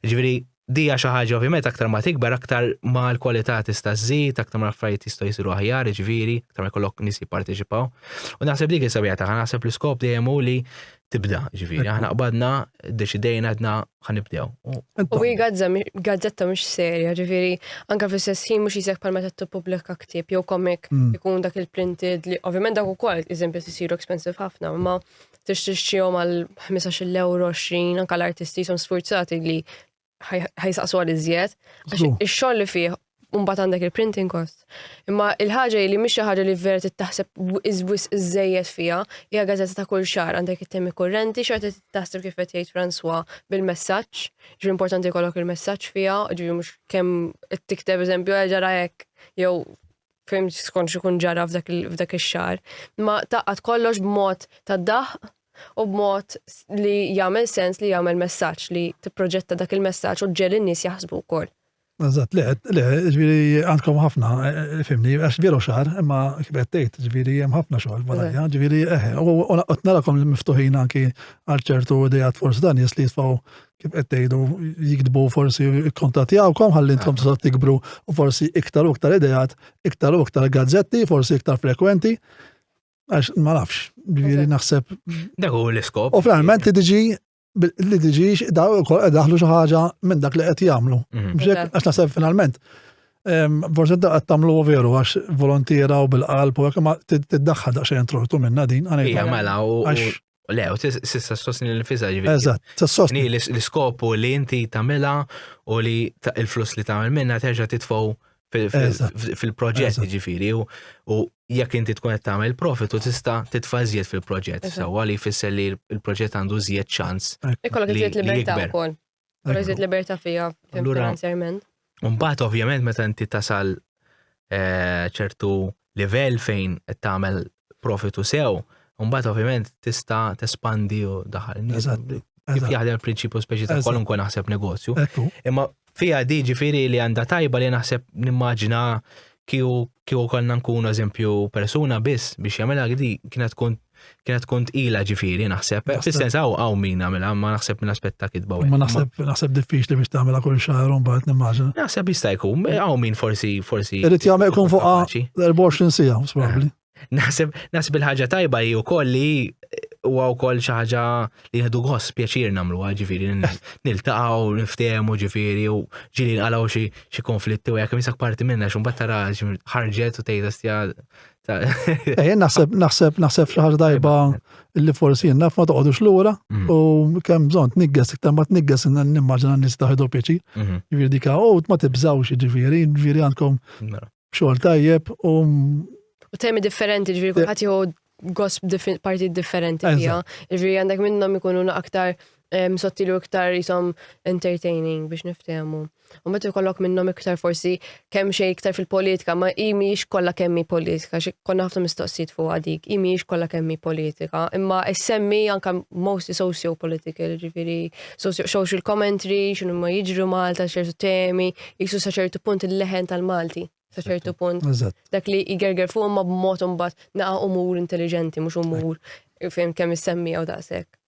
Speaker 2: Ġifieri dija xi ħaġa ovvjament aktar ma tikber aktar ma l-kwalità tista' żżid, aktar ma affarijiet jistgħu jsiru aħjar, ġifieri, aktar ma jkollok nies jipparteċipaw. U naħseb dik is-sabija tagħha, naħseb l-iskop dejjem hu li tibda, ġifiri. Aħna qbadna, deċidejna għadna ħanibdew. U hi
Speaker 3: gazzetta mux serja, ġifiri, anka fis sessin mux jizek pal meta t-publika ktib, jew komik, mm. ikun dak il-printed li, ovvijament dak u kol, eżempju, t-siru expensive ħafna, ma t-ixtixċijom għal 15 euro 20, anka l-artisti jisum sfurzati li ħajsaqsu għal iżjed, għax ix-xogħol li fih Umbat għandek il-printing cost. Imma il-ħaġa li mhix xi ħaġa li vera tittaħseb iżwis iżejjed fiha, hija gazzetta ta' kull xahar għandek it-temi kurrenti xorta tittaħseb kif qed jgħid Franswa bil-messaġġ, ġri importanti jkollok il-messaġġ fiha, ġri mhux kemm tikteb eżempju eh, ġara hekk jew fim skont xi kun ġara f'dak ix-xahar. Imma taqgħad kollox b'mod ta' daħq u b'mod li jagħmel sens li jagħmel messaġġ, li tipproġetta dak il-messaġġ u ġġegħel in-nies jaħsbu wkoll. Eżatt, le,
Speaker 1: le, ġifieri għandkom ħafna, fimni, għax veru xahar, imma kif qed tgħid, ġifieri hemm ħafna xogħol barajja, ġifieri eħe, u qed narakom miftuħin anki għal ċertu idejat forsi ta' nies li jisfaw kif qed tgħidu jikdbu forsi jikkontattjawkom ħalli intkom tistgħu tikbru u forsi iktar u iktar idejat, iktar u iktar gazzetti, forsi iktar frekwenti. Għax ma nafx, ġviri naħseb. Dak u l-iskop.
Speaker 2: U fl-arment li diġi
Speaker 1: li diġi daw kol daħlu xi ħaġa minn dak li qed jagħmlu. Mhm. Għax naħseb finalment. Forse da qed tagħmlu veru għax volontira u bil-qalb u hekk ma tiddaħħal daqsxejn trortu minna din. Ija mela u
Speaker 2: Le, u tista' sostni l-nifisa ġivi. Eżatt, sostni.
Speaker 1: L-iskopu li
Speaker 2: inti tamela u li il-flus li tamel minna terġa titfaw fil-proġett ġifiri u jekk inti tkun qed tagħmel profit u tista' titfa' żjed fil-proġett sewwa li jfisser li l-proġett għandu żjed ċans. Ikollok iżjed
Speaker 3: libertà wkoll. Rriżid libertà fija finanzjarment. Mbagħad
Speaker 2: ovvjament meta inti tasal eh, ċertu livell fejn qed tagħmel profitu sew, mbagħad ovvjament tista' tespandi u daħal. Eżatt. Kif jaħdem il-prinċipju speċi ta' kwalunkwe naħseb negozju. Imma fija di ġifieri li għandha tajba li naħseb nimmaġina kiju konna nkunu eżempju persuna biss biex jagħmilha għdi kienet tkun Kienet tkun tqila ġifieri naħseb. Fis-sens hawn hawn min għamilha, ma naħseb minn aspett ta' kitba. Ma naħseb naħseb
Speaker 1: diffiċli biex tagħmilha kull xahar u mbagħad nimmaġina. Naħseb jista' jkun
Speaker 2: hawn min forsi forsi. Irid jagħmel jkun
Speaker 1: fuq 24 sija, probabbli. Naħseb naħseb
Speaker 2: il-ħaġa tajba hi wkoll li huwa wkoll xi ħaġa li jieħdu gost pjaċir nagħmluha ġifieri niltaqgħu niftehmu ġifieri u ġieli nqalgħu xi konflitti u jekk misak parti minna xi mbagħad tara ħarġet u tgħidha stja Ejja, naħseb,
Speaker 1: naħseb, naħseb xi ħaġa tajba li forsi naf ma toqgħodux lura mm. u kemm bżonn tnigges iktar ma tnigges nimmaġina nies taħdu pjaċi. Mhm. Jiġifieri dik u ma tibżawx jiġifieri, jiġifieri għandkom mela. xogħol tajjeb u
Speaker 3: U temi differenti ġifieri kulħadd jieħu gosp partit differenti fiha. Ġifieri għandek minnhom ikunu aktar sottilu iktar jisom entertaining biex niftehmu. U meta jkollok minnhom iktar forsi kemm xejn iktar fil-politika, ma hi mhijiex kollha kemm hi politika, xi konna ħafna mistoqsijiet fuq dik, hi mhijiex kollha kemm hi politika, imma issemmi anke mostly socio-political, ġifieri social commentary, x'inhu ma jiġru Malta, ċertu temi, jisu sa ċertu punt il-leħen tal-Malti sa ċertu punt. Dak li jgerger fuq ma b'mod imbagħad naqa' umur intelligenti, mhux umur fejn kemm issemmi jew daqshekk.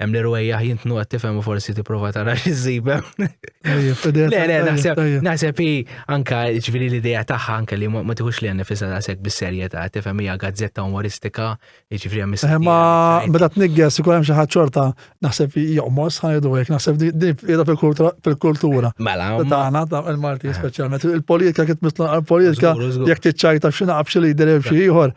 Speaker 2: Hemm li rwejjaħ jintnu qed tifhem u forsi tipprova tara xi ssib hemm. Le, le, naħseb naħseb hi anka ġifieri l-idea tagħha anke li ma tieħux li għandha fisa daqshekk bis-serjetà, tifhem hija gazzetta umoristika, jiġifieri hemm eh, Ma meta
Speaker 1: tnigges ikun hemm xi ħadd xorta naħseb joqmos ħajdu hekk, naħseb din qiegħda fil-kultura. Mela. Tagħna
Speaker 2: il-Malti
Speaker 1: eh. speċjalment. Il-politika kif mitla politika jekk tiċċajta f'xi naqab xi lider xi ieħor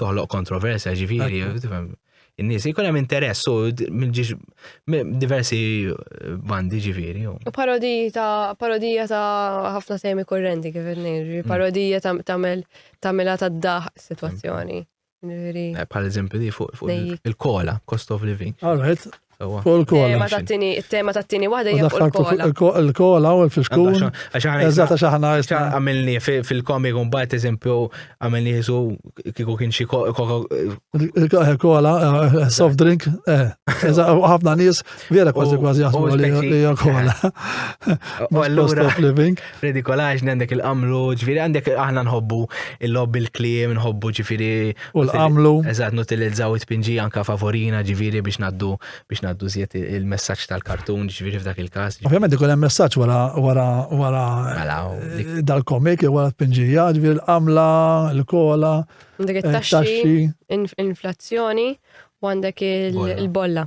Speaker 2: toħloq kontroversja ġifieri, tifhem. In-nies jkun hemm interess u mill-ġiex diversi bandi ġifieri. U parodiji ta'
Speaker 3: parodija ta' ħafna temi kurrenti kif nirri, parodija ta' tamel tamela ta' daħ situazzjoni. Ġifieri. Eh,
Speaker 2: Bħal eżempju di fuq fuq il-kola, cost of living. All right,
Speaker 1: Fuq il-kola. Tema
Speaker 3: tat-tini, tema tat-tini waħda hija fuq il-kola. Il-kola u l-fiskun.
Speaker 1: Eżatt għax aħna għamilni
Speaker 2: fil-komik un bat eżempju għamilni jisu kiku kien xi kola,
Speaker 1: soft drink, eżatt ħafna nies vera kważi kważi jaħsbu li hija kola. U allura living. f'ridikolaġni għandek
Speaker 2: il-qamlu, ġifiri għandek aħna nħobbu il-lob il-klim, nħobbu ġifiri. U l-qamlu.
Speaker 1: Eżat, nutilizzaw
Speaker 2: it-pinġi anka favorina ġifiri biex naddu biex naddu zjet il-messagġ tal-kartun ġifiri f'dak il-kas. Ovvijament ikun hemm messaġġ
Speaker 1: wara wara wara mela, eh, dal-komik jew wara t-pinġija, ġifiri l-qamla, l-kola, eh,
Speaker 3: taxxi, inflazzjoni u għandek il-bolla.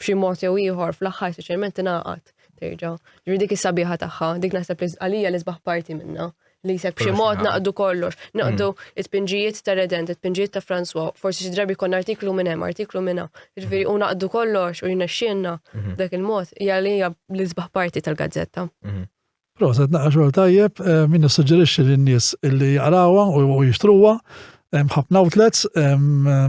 Speaker 3: b'xi mod jew ieħor fl-aħħar speċjalment tingħaqad terġa'. Ġifieri dik is-sabiħa tagħha, dik naħseb li għalija li sbaħ parti minnha li jisek b'xi mod naqdu kollox, naqdu mm. it-pinġijiet ta' Redent, it-pinġijiet ta' François, forsi xi drabi konna artiklu minn hemm, artiklu minn hawn. Ġifieri u naqdu kollox u jnexxielna mhm. dak il-mod hija li hija l-isbaħ parti tal-gazzetta. Mhm. Proset,
Speaker 1: naqra xogħol tajjeb, min nissuġġerixxi lin-nies illi jaqrawha u jixtruha. Hemm ħafna outlets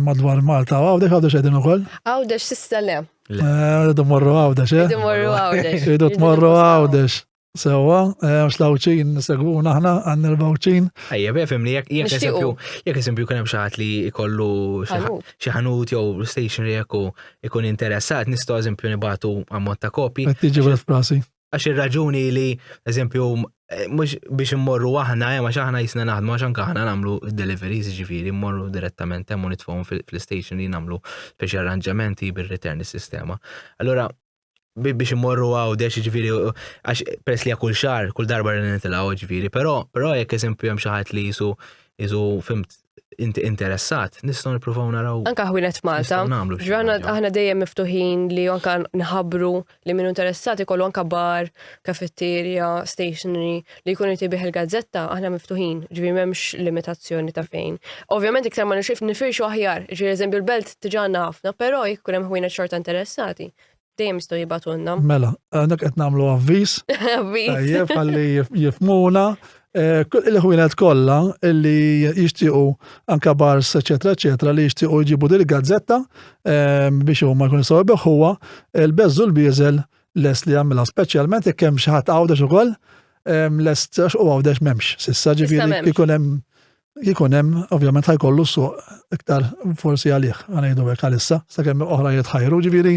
Speaker 1: madwar Malta u Għawdex Għawdex qegħdin ukoll. Għawdex sista le.
Speaker 3: Rridu morru Għawdex, eh? Rridu morru
Speaker 1: Għawdex. Rridu tmorru Għawdex. Sewa, għax lawċin segwuna aħna għan il-bawċin. Ejja, befem li jek
Speaker 2: esempio, jek esempio kien hemm xaħat li jkollu xi ħanut jew stationery jekk ikun interessat, nistgħu eżempju nibatu ammont ta' kopi. Qed tiġi bil-frasi.
Speaker 1: Għax ir-raġuni
Speaker 2: li, eżempju, eh, mhux biex immorru aħna, eh, għax aħna jisna naħdmu, għax anke aħna nagħmlu deliveries, ġifieri mmorru direttament hemm u nitfgħu fl-station li nagħmlu biex arranġamenti bir-return is-sistema. Allura biex immorru għaw deċ ġviri, għax pers li kull xar, kull darba li nitilgħu ġviri, però però jekk eżempju hemm xi ħadd li jisu jisu fimt inti interessat, nistgħu nippruvaw naraw. Anka ħwienet Malta,
Speaker 3: ġrana aħna dejjem miftuħin li anka nħabru li minnu interessati kollu anka bar, kafetterja, stationery, li jkun inti biħ il-gazzetta, aħna miftuħin, ġvi memx limitazzjoni ta' fejn. Ovvjament iktar ma nixif nifirxu aħjar, ġvi eżempju l-belt tiġanna ħafna, pero jkun hemm ħwienet xorta interessati, Dejjem jistgħu jibatulna. Mela, għandek qed
Speaker 1: nagħmlu avviż. Avviż. Tajjeb ħalli jifmuna. Eh, il-ħwienet kollha li jixtiequ anka bars, eċetera, eċetera, li jixtiequ jġibu dil gazzetta eh, biex huma jkunu saw beħuwa, il-beżżu l-bieżel les li jagħmilha speċjalment jekk hemm xi ħadd għawdex ukoll eh, lest u għawdex m'hemmx. Sissa ġifieri ikun hemm
Speaker 3: jkun hemm
Speaker 1: ovvjament ħajkollu suq iktar forsi għalih għanejdu hekk għalissa sakemm oħra jitħajru ġifieri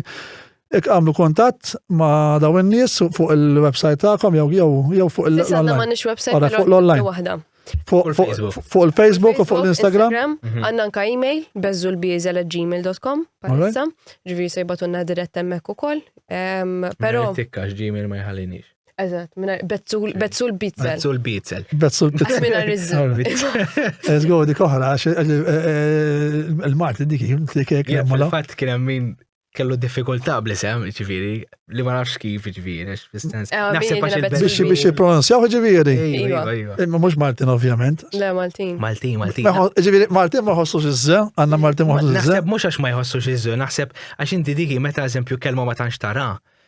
Speaker 1: Ek għamlu kontatt ma daw in-nies fuq il-website tagħkom jew jew jew fuq il-online.
Speaker 3: Fuq l-online.
Speaker 1: Fuq il-Facebook u fuq l-Instagram. Mhm. Għanna nka
Speaker 3: e-mail bezzulbizel.gmail.com palissa ġviri sejbatunna dirett emmek u koll. Pero. Tikkax gmail
Speaker 2: ma jħallinix. Eżatt, minna
Speaker 3: bezzul, bezzul bitzel. Bezzul bitzel. Bezzul
Speaker 2: bitzel. Minna
Speaker 3: rizzul. Ez għu
Speaker 1: dik oħra, eh, eh, il-Marti dik jim t-kek. Fil-fat kien min
Speaker 2: kellu diffikultà bl-isem, ġifiri, li ma nafx kif ġifiri, fil-sens. Eh, Naħseb biex
Speaker 3: biex
Speaker 2: jipronunzjaw
Speaker 1: ġifiri. Iva, iva. Imma
Speaker 2: mux Martin,
Speaker 1: ovvjament. Le, Martin.
Speaker 3: Martin, Martin.
Speaker 2: Ġifiri, Martin
Speaker 1: ma jħossu xizze, għanna Martin ma jħossu xizze. Naħseb mux għax ma jħossu xizze,
Speaker 2: naħseb għax inti diki meta eżempju kelma ma tanx tara.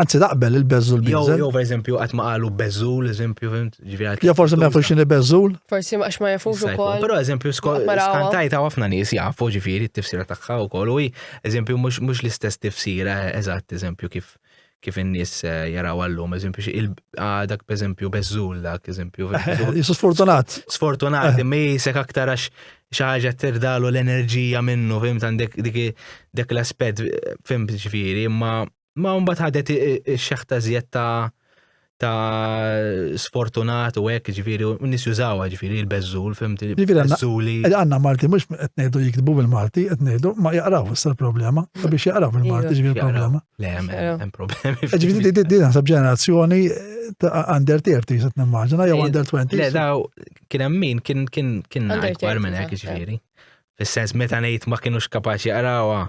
Speaker 2: Anzi, naqbel il-bezzul
Speaker 1: bizzul. Jew, per eżempju, għat ma
Speaker 2: qalu bezzul, eżempju, ġivjat. Jew forse ma jafux xini
Speaker 1: bezzul. Forse ma ma jafux u
Speaker 3: kol. Pero, eżempju,
Speaker 2: skantajt għaw għafna nis jafu ġifiri t-tifsira taħħa u kol. U, eżempju, mux l-istess tifsira, eżat, eżempju, kif kif in-nies eh, jaraw għallum, eżempju, ah, dak eżempju bezzul dak, eżempju. Jisu sfortunat.
Speaker 1: Sfortunat, eh. mi
Speaker 2: sek aktar għax xaħġa tirdalu l-enerġija minnu, fim, għandek dik l-aspet, fim, ġifiri, ma Ma mbagħad ħadet ix-xeħta żjed ta' ta' sfortunat u hekk ġifieri u nis jużawha ġifieri l-beżżul fim beżżuli. Għandna Malti mhux
Speaker 1: qed ngħidu jiktbu bil-Malti, qed ngħidu ma jaqraw issa l-problema, biex jaqraw bil-Malti ġifieri problema. Le hemm
Speaker 2: problemi. Ġifieri din naħseb
Speaker 1: ġenerazzjoni under 30 se nimmaġina jew under 20. Le daw
Speaker 2: kien hemm min kien kien kien akbar minn hekk ġifieri. Fis-sens meta ngħid ma kienux kapaċi jaqrawha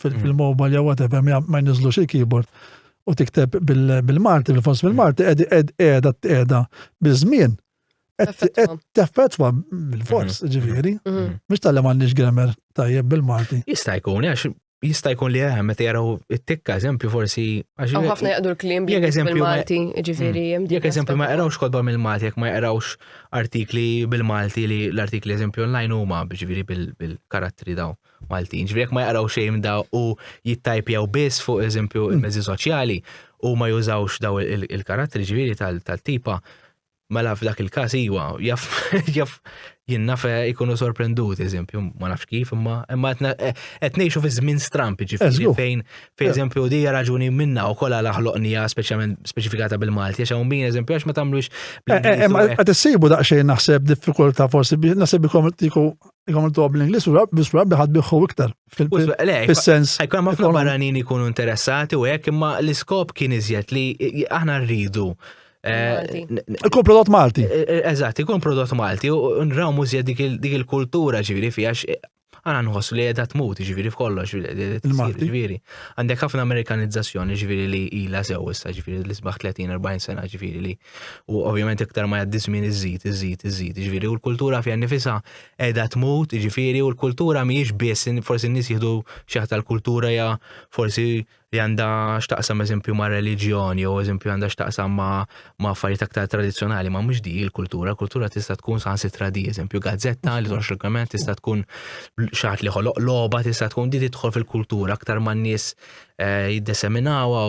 Speaker 1: fil-mobile jew whatever ma jniżlux il-keyboard u tikteb bil-Malti, bil-fons bil-Malti, edi ed eda eda bil-żmien. Teffetwa bil-fors, mhm. ġiviri. Mux mhm. mhm. tal-li mandiġ grammar tajjeb bil-Malti. Jista' jkun, għax
Speaker 2: jista' jkun li għem, eh, meta jaraw it-tikka, eżempju, forsi. Għaw ħafna jgħadu
Speaker 3: l-klim bil-Malti, ġiviri. Mm. Jek eżempju, ma jgħarawx
Speaker 2: kodba mill-Malti, jek ma jgħarawx artikli bil-Malti li l-artikli eżempju online huma ġiviri bil-karattri daw. Mm. Maltin. Ġifieri jekk ma jaqraw xejn da u jittajpjaw biss fuq eżempju mm. il-mezzi soċjali u ma jużawx daw il-karattri ġifieri tal-tipa, mela f'dak il-każ iwa, jaf jaf jinnafe jkunu sorprendut, eżempju, ma nafx kif, imma imma qed ngħixu fi żmien stramp ġifieri fejn fejn eżempju di raġuni minna u kollha laħloqnija speċjalment speċifikata bil-Malti għax hawn min eżempju għax ma tagħmlux. Eh, eh, eh, qed
Speaker 1: issibu daqsxejn naħseb diffikultà forsi naħseb ikom Jgħamlu tuħab l-Inglis u bis rabbi ħad biħu iktar. Fil-sens. Għajkun ma fl barranin
Speaker 2: jkunu interessati u għek imma l-iskop kien iżjed li aħna rridu. Eh,
Speaker 1: ikun prodott Malti. Eh, eh, eżatt, ikun prodott
Speaker 2: Malti u nraw mużja dik il-kultura ġiviri fija għana nħossu li għedat mut ġiviri f'kollox ġiviri. Għandek ħafna amerikanizzazzjoni ġiviri li ila sew issa ġiviri li sbaħ 30-40 sena ġiviri li U ovvjament iktar ma jgħaddi żmien iżid, iżid, iżid. Ġifieri u l-kultura fija nifisha qiegħda tmut, ġifieri u l-kultura mhijiex biss forsi n-nies jieħdu xi ħadd tal-kultura ja forsi li għandha x'taqsam eżempju ma' reliġjon jew eżempju għandha x'taqsam ma' affarijiet aktar tradizzjonali ma' mhux di l-kultura, kultura tista' tkun saħansitra di eżempju gazzetta li toħroġ regolament tista' tkun xaħat li ħoloq logħba tista' tkun di tidħol fil-kultura aktar ma' nies eh, jiddeseminawha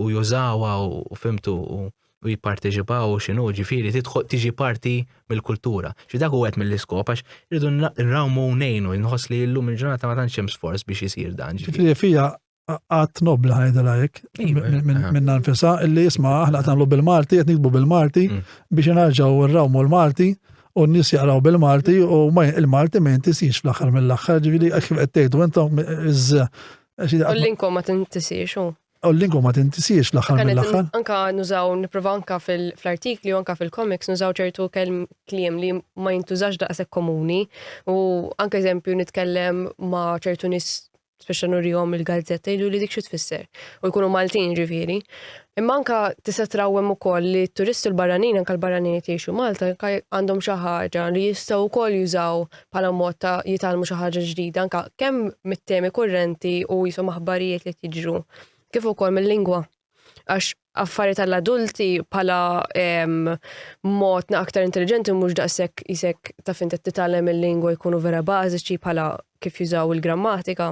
Speaker 2: u jużawha u fimtu u u jipparteċipaw u xinu ġifiri tidħol tiġi parti mill-kultura. Xi dak u għet mill-iskop għax irridu nrawmu nejnu nħoss li llum il-ġurnata ma tantx hemm sforz biex isir dan. Ġifiri fija
Speaker 1: għat nobla ħajda lajk iva, minn nfisa illi jisma aħna għatanlu bil-Malti, għet nikbu bil-Malti mm. biex nħarġaw nrawmu l-Malti u n-nis jaqraw bil-Malti u il-Malti ma jintisix fl-axar mill-axar ġifiri għax
Speaker 3: għet tejdu
Speaker 1: għentom iż U l-linko
Speaker 3: ma
Speaker 1: tintisiex,
Speaker 3: u.
Speaker 1: U l-linko ma tintisiex l-axar mill-axar. Anka nużaw,
Speaker 3: niprofa anka fil-artikli, anka fil-komiks, nużaw ċertu kelm kliem li ma jintużax daqsek komuni. U anka eżempju nitkellem ma ċertu nis speċa nurjom il-gazzetta jgħidu li dik xi tfisser. U jkunu Maltin ġifieri. Imma anka tista' trawwem ukoll li t-turisti l-barranin anka l-barranin qed jgħixu Malta għandhom xi ħaġa li jistgħu wkoll jużaw bħala mod ta' jitgħallmu xi ħaġa ġdida anke kemm mit-temi kurrenti u jisom aħbarijiet li tiġru kif ukoll mill-lingwa. Għax affarijiet tal-adulti bħala mod aktar intelligenti mhux daqshekk isek ta' fin titgħallem il-lingwa jkunu vera bażiċi bħala kif jużaw il-grammatika.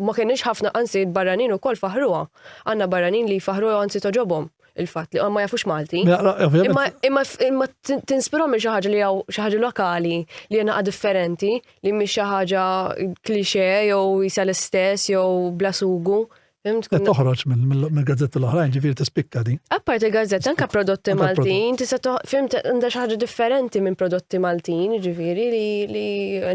Speaker 3: Ma kienx ħafna anzi barranin ukoll faħħruha. Għandna barranin li jfaħħruha jew anzi togħġobhom il-fatt li ma jafux Malti. Imma tinspirhom il xi ħaġa li hawn xi ħaġa lokali li hija differenti li mhix xi ħaġa klixe jew jisa l-istess jew bla sugu. Toħroġ
Speaker 1: minn gazzetti l-oħrajn ġifieri tispikka di. Appart il-gazzetta anke
Speaker 3: prodotti Maltin, tista' fimt għandha xi ħaġa differenti minn prodotti Maltin, ġifieri li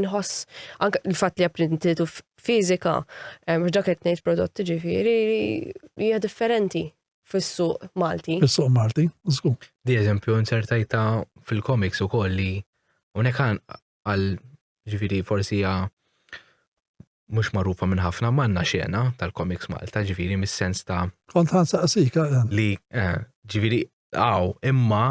Speaker 3: nħoss anke l-fatt li apprintitu fiżika, mhux dak qed ngħid prodotti ġifieri hija differenti fis-suq Malti. Fis-suq Malti,
Speaker 1: żgur. Di eżempju
Speaker 2: insertajta fil-komiks ukoll li unek għal ġifieri forsi hija mhux magħrufa minn ħafna manna xena tal-komiks Malta ġifieri mis-sens ta' Kont ħansaqsik
Speaker 1: eh. li eh,
Speaker 2: ġifieri għaw imma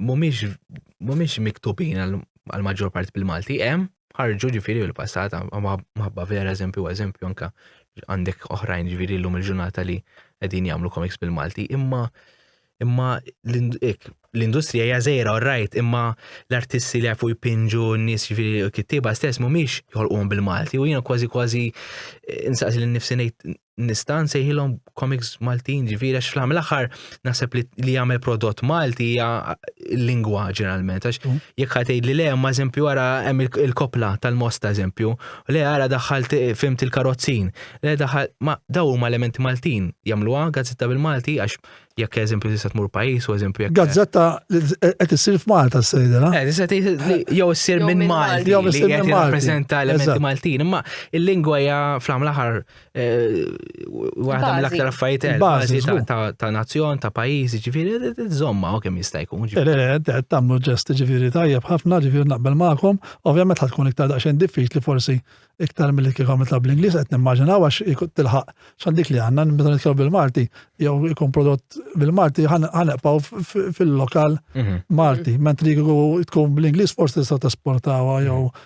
Speaker 2: mhumiex mhumiex miktubin għal maġġor parti bil-Malti, hemm ħarġu ġifieri l-passat maħabba vera eżempju eżempju anka għandek oħrajn ġifieri llum il-ġurnata li qegħdin jagħmlu komiks bil-Malti, imma imma l-industrija hija żejra rajt imma l-artisti li jafu jpinġu n-nies ġifieri kittieba stess mhumiex jħolquhom bil-Malti u jiena kważi kważi eh, insaqsi lil nifsi ngħid nista' nsejħilhom comics Maltin ġifieri għax fl aħħar naħseb li li jagħmel prodott Malti hija lingwa ġeneralment għax mm. jekk ħatej li le ma eżempju ara hemm il-kopla tal-mosta eżempju le ara daħħal fimt il-karozzin le daħħal ma daw huma elementi Maltin jagħmluha gazzetta bil-Malti għax jekk eżempju tista' tmur pajjiż u eżempju jekk. Gazzetta
Speaker 1: qed issir f'Malta s-sejda, na? Eh, eh, jew issir minn Malti.
Speaker 2: Jew issir minn Malti. Rappreżenta elementi Maltin, imma il-lingwa hija fl-aħħar Waħda mill-aktar affarijiet bażi ta' nazzjon, ta' pajjiż, ġifieri żomma u kemm jista' jkun. Le, le, le, tagħmlu
Speaker 1: ġest ġifieri tajjeb ħafna, ġifieri naqbel magħkom. Ovvjament ħad tkun iktar daqsxejn diffiċli forsi iktar mill kif għamil ta' bl-Ingliż qed nimmaġinaw għax tilħaq x'għal dik li għandna meta nitkellmu bil-Malti jew ikun prodott bil-Malti ħaneqpaw fil-lokal mhm. Malti, mentri tkun bl-Ingliż forsi tista' tesportawha jew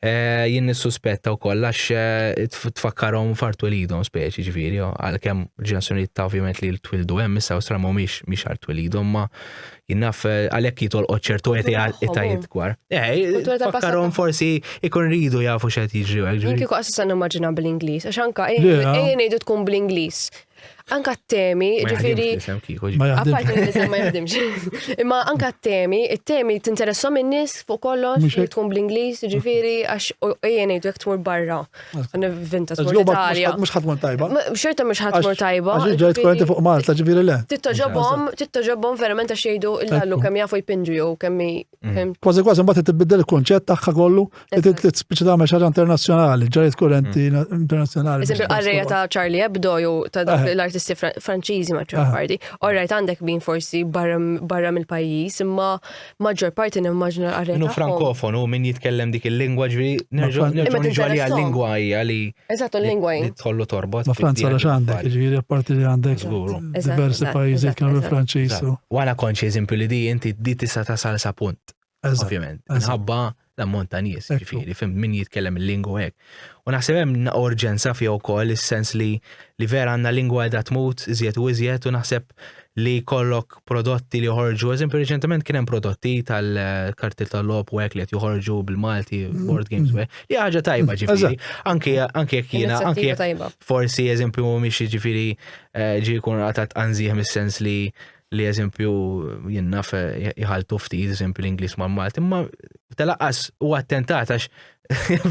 Speaker 2: Eh, jien nissuspetta wkoll għax eh, tfakkarhom fartu lidhom speċi ġifieri, għalkemm ġenerazzjonijiet ta' ovvjament li twildu hemm issa Awstra mhumiex mhix għal twilidhom ma jinnaf eh, għalhekk jitolqod ċertu etajiet gwar. Tfakkarhom forsi ikun ridu jafu x'qed jiġri hekk ġifieri. Kieku qassan nimmaġina
Speaker 3: bl-Ingliż, għax anka ejjin ngħidu tkun bl-Ingliż. Anka t-temi, ġifiri. Apparti l-isem ma jaħdimx. Imma anka t-temi, t-temi t-interessom in-nis fuq kollox, li tkun bl-Inglis, ġifiri, għax ejjen ejdu jek tmur barra. Vinta tmur Italja. Mux ħatmur tajba.
Speaker 1: Xorta mux ħatmur
Speaker 3: tajba. Għax ġajt korrenti fuq
Speaker 1: Malta, ġifiri le. Tittaġobom, tittaġobom
Speaker 3: verament għax jgħidu il-lallu kem jafu jpinġu jew kemmi Mhm. Kważi kważi mbagħad
Speaker 1: tibdel il-konċett tagħha kollu qed tispiċċa tagħmel xi ħaġa internazzjonali, ġariet kurrenti mhm. internazzjonali. Eżempju qarrejja ta'
Speaker 3: Charlie Hebdo jew ta' eh. l-artisti Franċiżi ma' ċarparti. Eh. Orrajt għandek min forsi barra mill-pajjiż, imma maġġor parti nimmaġna l-qarrejja. Minu frankofonu min
Speaker 2: jitkellem dik il-lingwa ġri nerġgħu għalija l-lingwa hija li Eżatt, u l-lingwa jien.
Speaker 3: Tħollu torbot. Ma Franza
Speaker 2: għax
Speaker 1: għandek, ġifieri apparti li għandek diversi pajjiżi kienu Franċiż. U għana konċi eżempju
Speaker 2: li di inti di tista' tasal sa punt. Ovvjament. Nħabba l-ammont ta' nies, ġifieri, fim min jitkellem il-lingwa hekk. U naħseb hemm urġenza fija wkoll is-sens li li vera għandna lingwa qiegħda tmut iżjed u iżjed u naħseb li jkollok prodotti li joħorġu, eżempju reċentement kien hemm prodotti tal-karti tal-lop u hekk li qed joħorġu bil-Malti board games u hekk. Li ħaġa tajba ġifieri, anke anke jekk jiena anke forsi eżempju mhumiex ġifieri eh, ġi jkun għatat anżieħ mis-sens li li eżempju jinnaf eh, jħaltu ftit eżempju l-Inglis ma' Malti, ma telaqas u attentat għax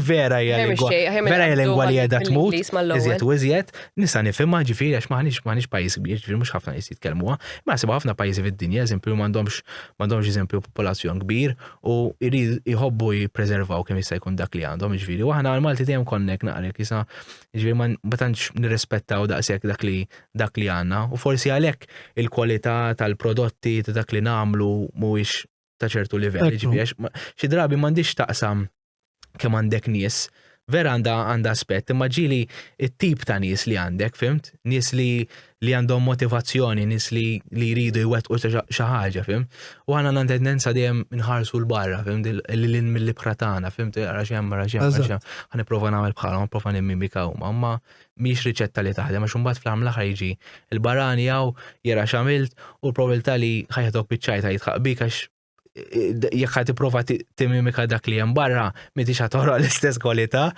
Speaker 2: Vera hija lingwa. Vera hija lingwa li qiegħda tmut. Iżjed u iżjed, nista' nifhimha ġifieri għax maħniex maħniex pajjiż kbir, ġifieri mhux ħafna nies jitkellmuha. Ma sibha ħafna pajjiżi fid-dinja, eżempju m'għandhomx m'għandhomx eżempju popolazzjon kbir u jrid jħobbu jippreservaw kemm jista' jkun dak li għandhom ġifieri. U aħna l-Malti dejjem konnek naqrek jisa ġifieri ma tantx nirrispettaw daqshekk dak li dak li għandna u forsi għalhekk il-kwalità tal-prodotti ta' dak li nagħmlu mhuwiex ta' ċertu livell, ġifieri xi drabi m'għandix taqsam kemm għandek nies, vera għandha għandha aspett, imma ġili it-tip ta' nies li għandek, fimt? Nies li li għandhom motivazzjoni, nies li li jridu jwettqu xi ħaġa, fim? U għandna għandna tendenza dejjem nħarsu l-barra, fim? Li lin mill-ibħra tagħna, fimt? Għax hemm, għax hemm, għax hemm. Ħa nipprova nagħmel bħalhom, nipprova nimmimika huma, imma mhix riċetta li taħdem għax imbagħad fl-aħħar mill-aħħar jiġi l-barani hawn jara x'għamilt u l-probabilità li ħajħdok biċċajta jitħaq bik għax jekk ħad tipprova timimika dak li hemm barra m'intix ħad toħroq l-istess kwalità.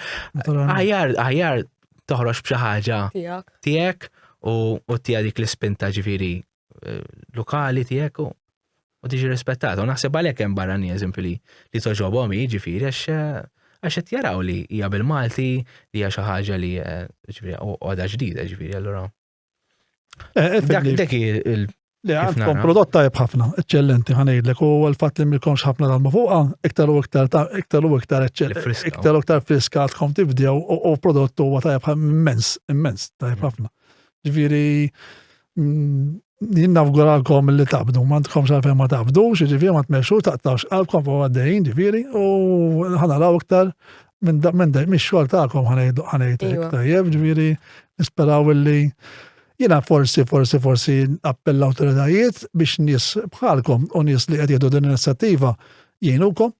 Speaker 2: Aħjar aħjar toħroġ b'xi ħaġa tiegħek u tiegħek dik l-ispinta ġifieri eh, lokali tiegħek u tiġi rispettata. U naħseb għalhekk hemm barrani eżempju li li toġobhom jiġifieri għax eh, għax qed jaraw li hija bil-Malti li hija xi ħaġa li eh, ġifieri għoda ġdida ġifieri allura. Dak dak il Le, għandkom
Speaker 1: prodott tajb ħafna, eccellenti ħanejdlek, u għal-fat li milkomx ħafna tal fuqa, iktar u iktar iktar u iktar iktar u iktar friska għadkom tibdew u prodott huwa tajb immens, immens, tajb mm. ħafna. Ġviri, jien nafguralkom li tabdu, ma tkomx għalfejn ma tabdu, ġifieri ma tmexxu taqtawx qalbkom fuq għaddejjin ġifieri u ħanaraw iktar minn minn mix-xogħol tagħkom ħanejtek iva. tajjeb ġifieri nisperaw illi jiena forsi forsi forsi appell awtoritajiet biex nies bħalkom u nies li qed jieħdu din l-inizjattiva jgħinukom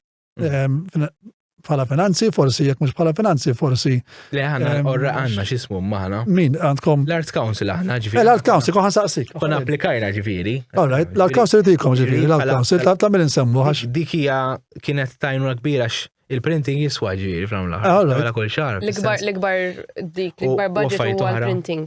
Speaker 1: bħala finanzi, forsi jekk mhux bħala finanzi, forsi. Le ħana orra
Speaker 2: għandna x'ismu maħna. Min għandkom? L-Art
Speaker 1: Council aħna
Speaker 2: ġifieri. Eh, L-Art Council kohan saqsik.
Speaker 1: Kon applikajna ġifieri.
Speaker 2: Alright, l-Art Council
Speaker 1: tikom ġifieri, l-Art Council ta' tagħmel insemmu għax. Dik hija
Speaker 2: kienet tajnuna kbira il-printing jiswa ġifieri fl-għamla. Għala kull xahar. L-ikbar
Speaker 3: dik, l-ikbar budget huwa l-printing.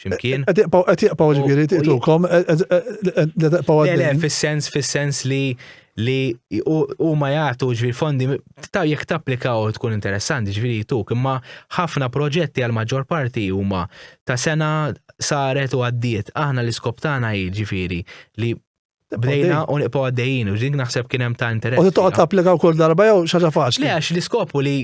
Speaker 2: ximkien. Qed jaqpaw
Speaker 1: ġifieri tiqtukom, jaqpaw għaddej. Le,
Speaker 2: fis-sens, fis-sens li li u ma jgħatu ġviri fondi, ta' jek tapplikaw tkun interessanti ġviri tuk, imma ħafna proġetti għal maġġor parti huma ta' sena saret u għaddiet. Aħna l-iskop tagħna ġviri li Bdejna u niqpaw għaddejjin, u ġink naħseb kien hemm ta' interess. U toqgħod tapplika wkoll
Speaker 1: darba jew xaġa faċli. Le għax l-iskopu li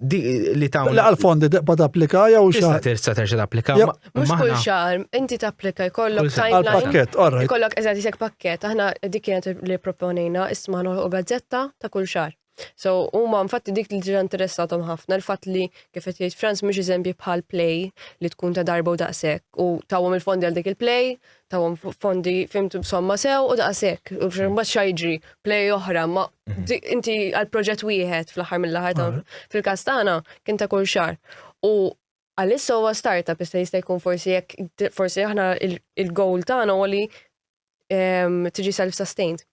Speaker 2: li ta' La għal-fondi tibqa
Speaker 1: tapplika jew xahar. Tista' terġa'
Speaker 2: tapplika. Mhux kull xahar,
Speaker 3: inti tapplika jkollok timeline. Pakket, orra. Jkollok
Speaker 1: eżatt isek pakket,
Speaker 3: aħna dik kienet li proponejna isma' u gazzetta ta' kull xahar. So huma infatti dik li ġra interessatom ħafna l-fatt li kif qed jgħid Franz mhux eżempji bħal play li tkun ta' darba u daqshekk u tawhom il-fondi għal dik il-play tawhom fondi fimtu b'somma sew u daqshekk. U mbagħad xa jiġri play oħra, ma mhm. inti għal proġett wieħed fl-aħħar mill-aħħar fil-każ tagħna kien ta' kull xar. U għalissa huwa startup issa jista' jkun forsi jekk forsi aħna il-goal tagħna huwa li ehm, tiġi self-sustained.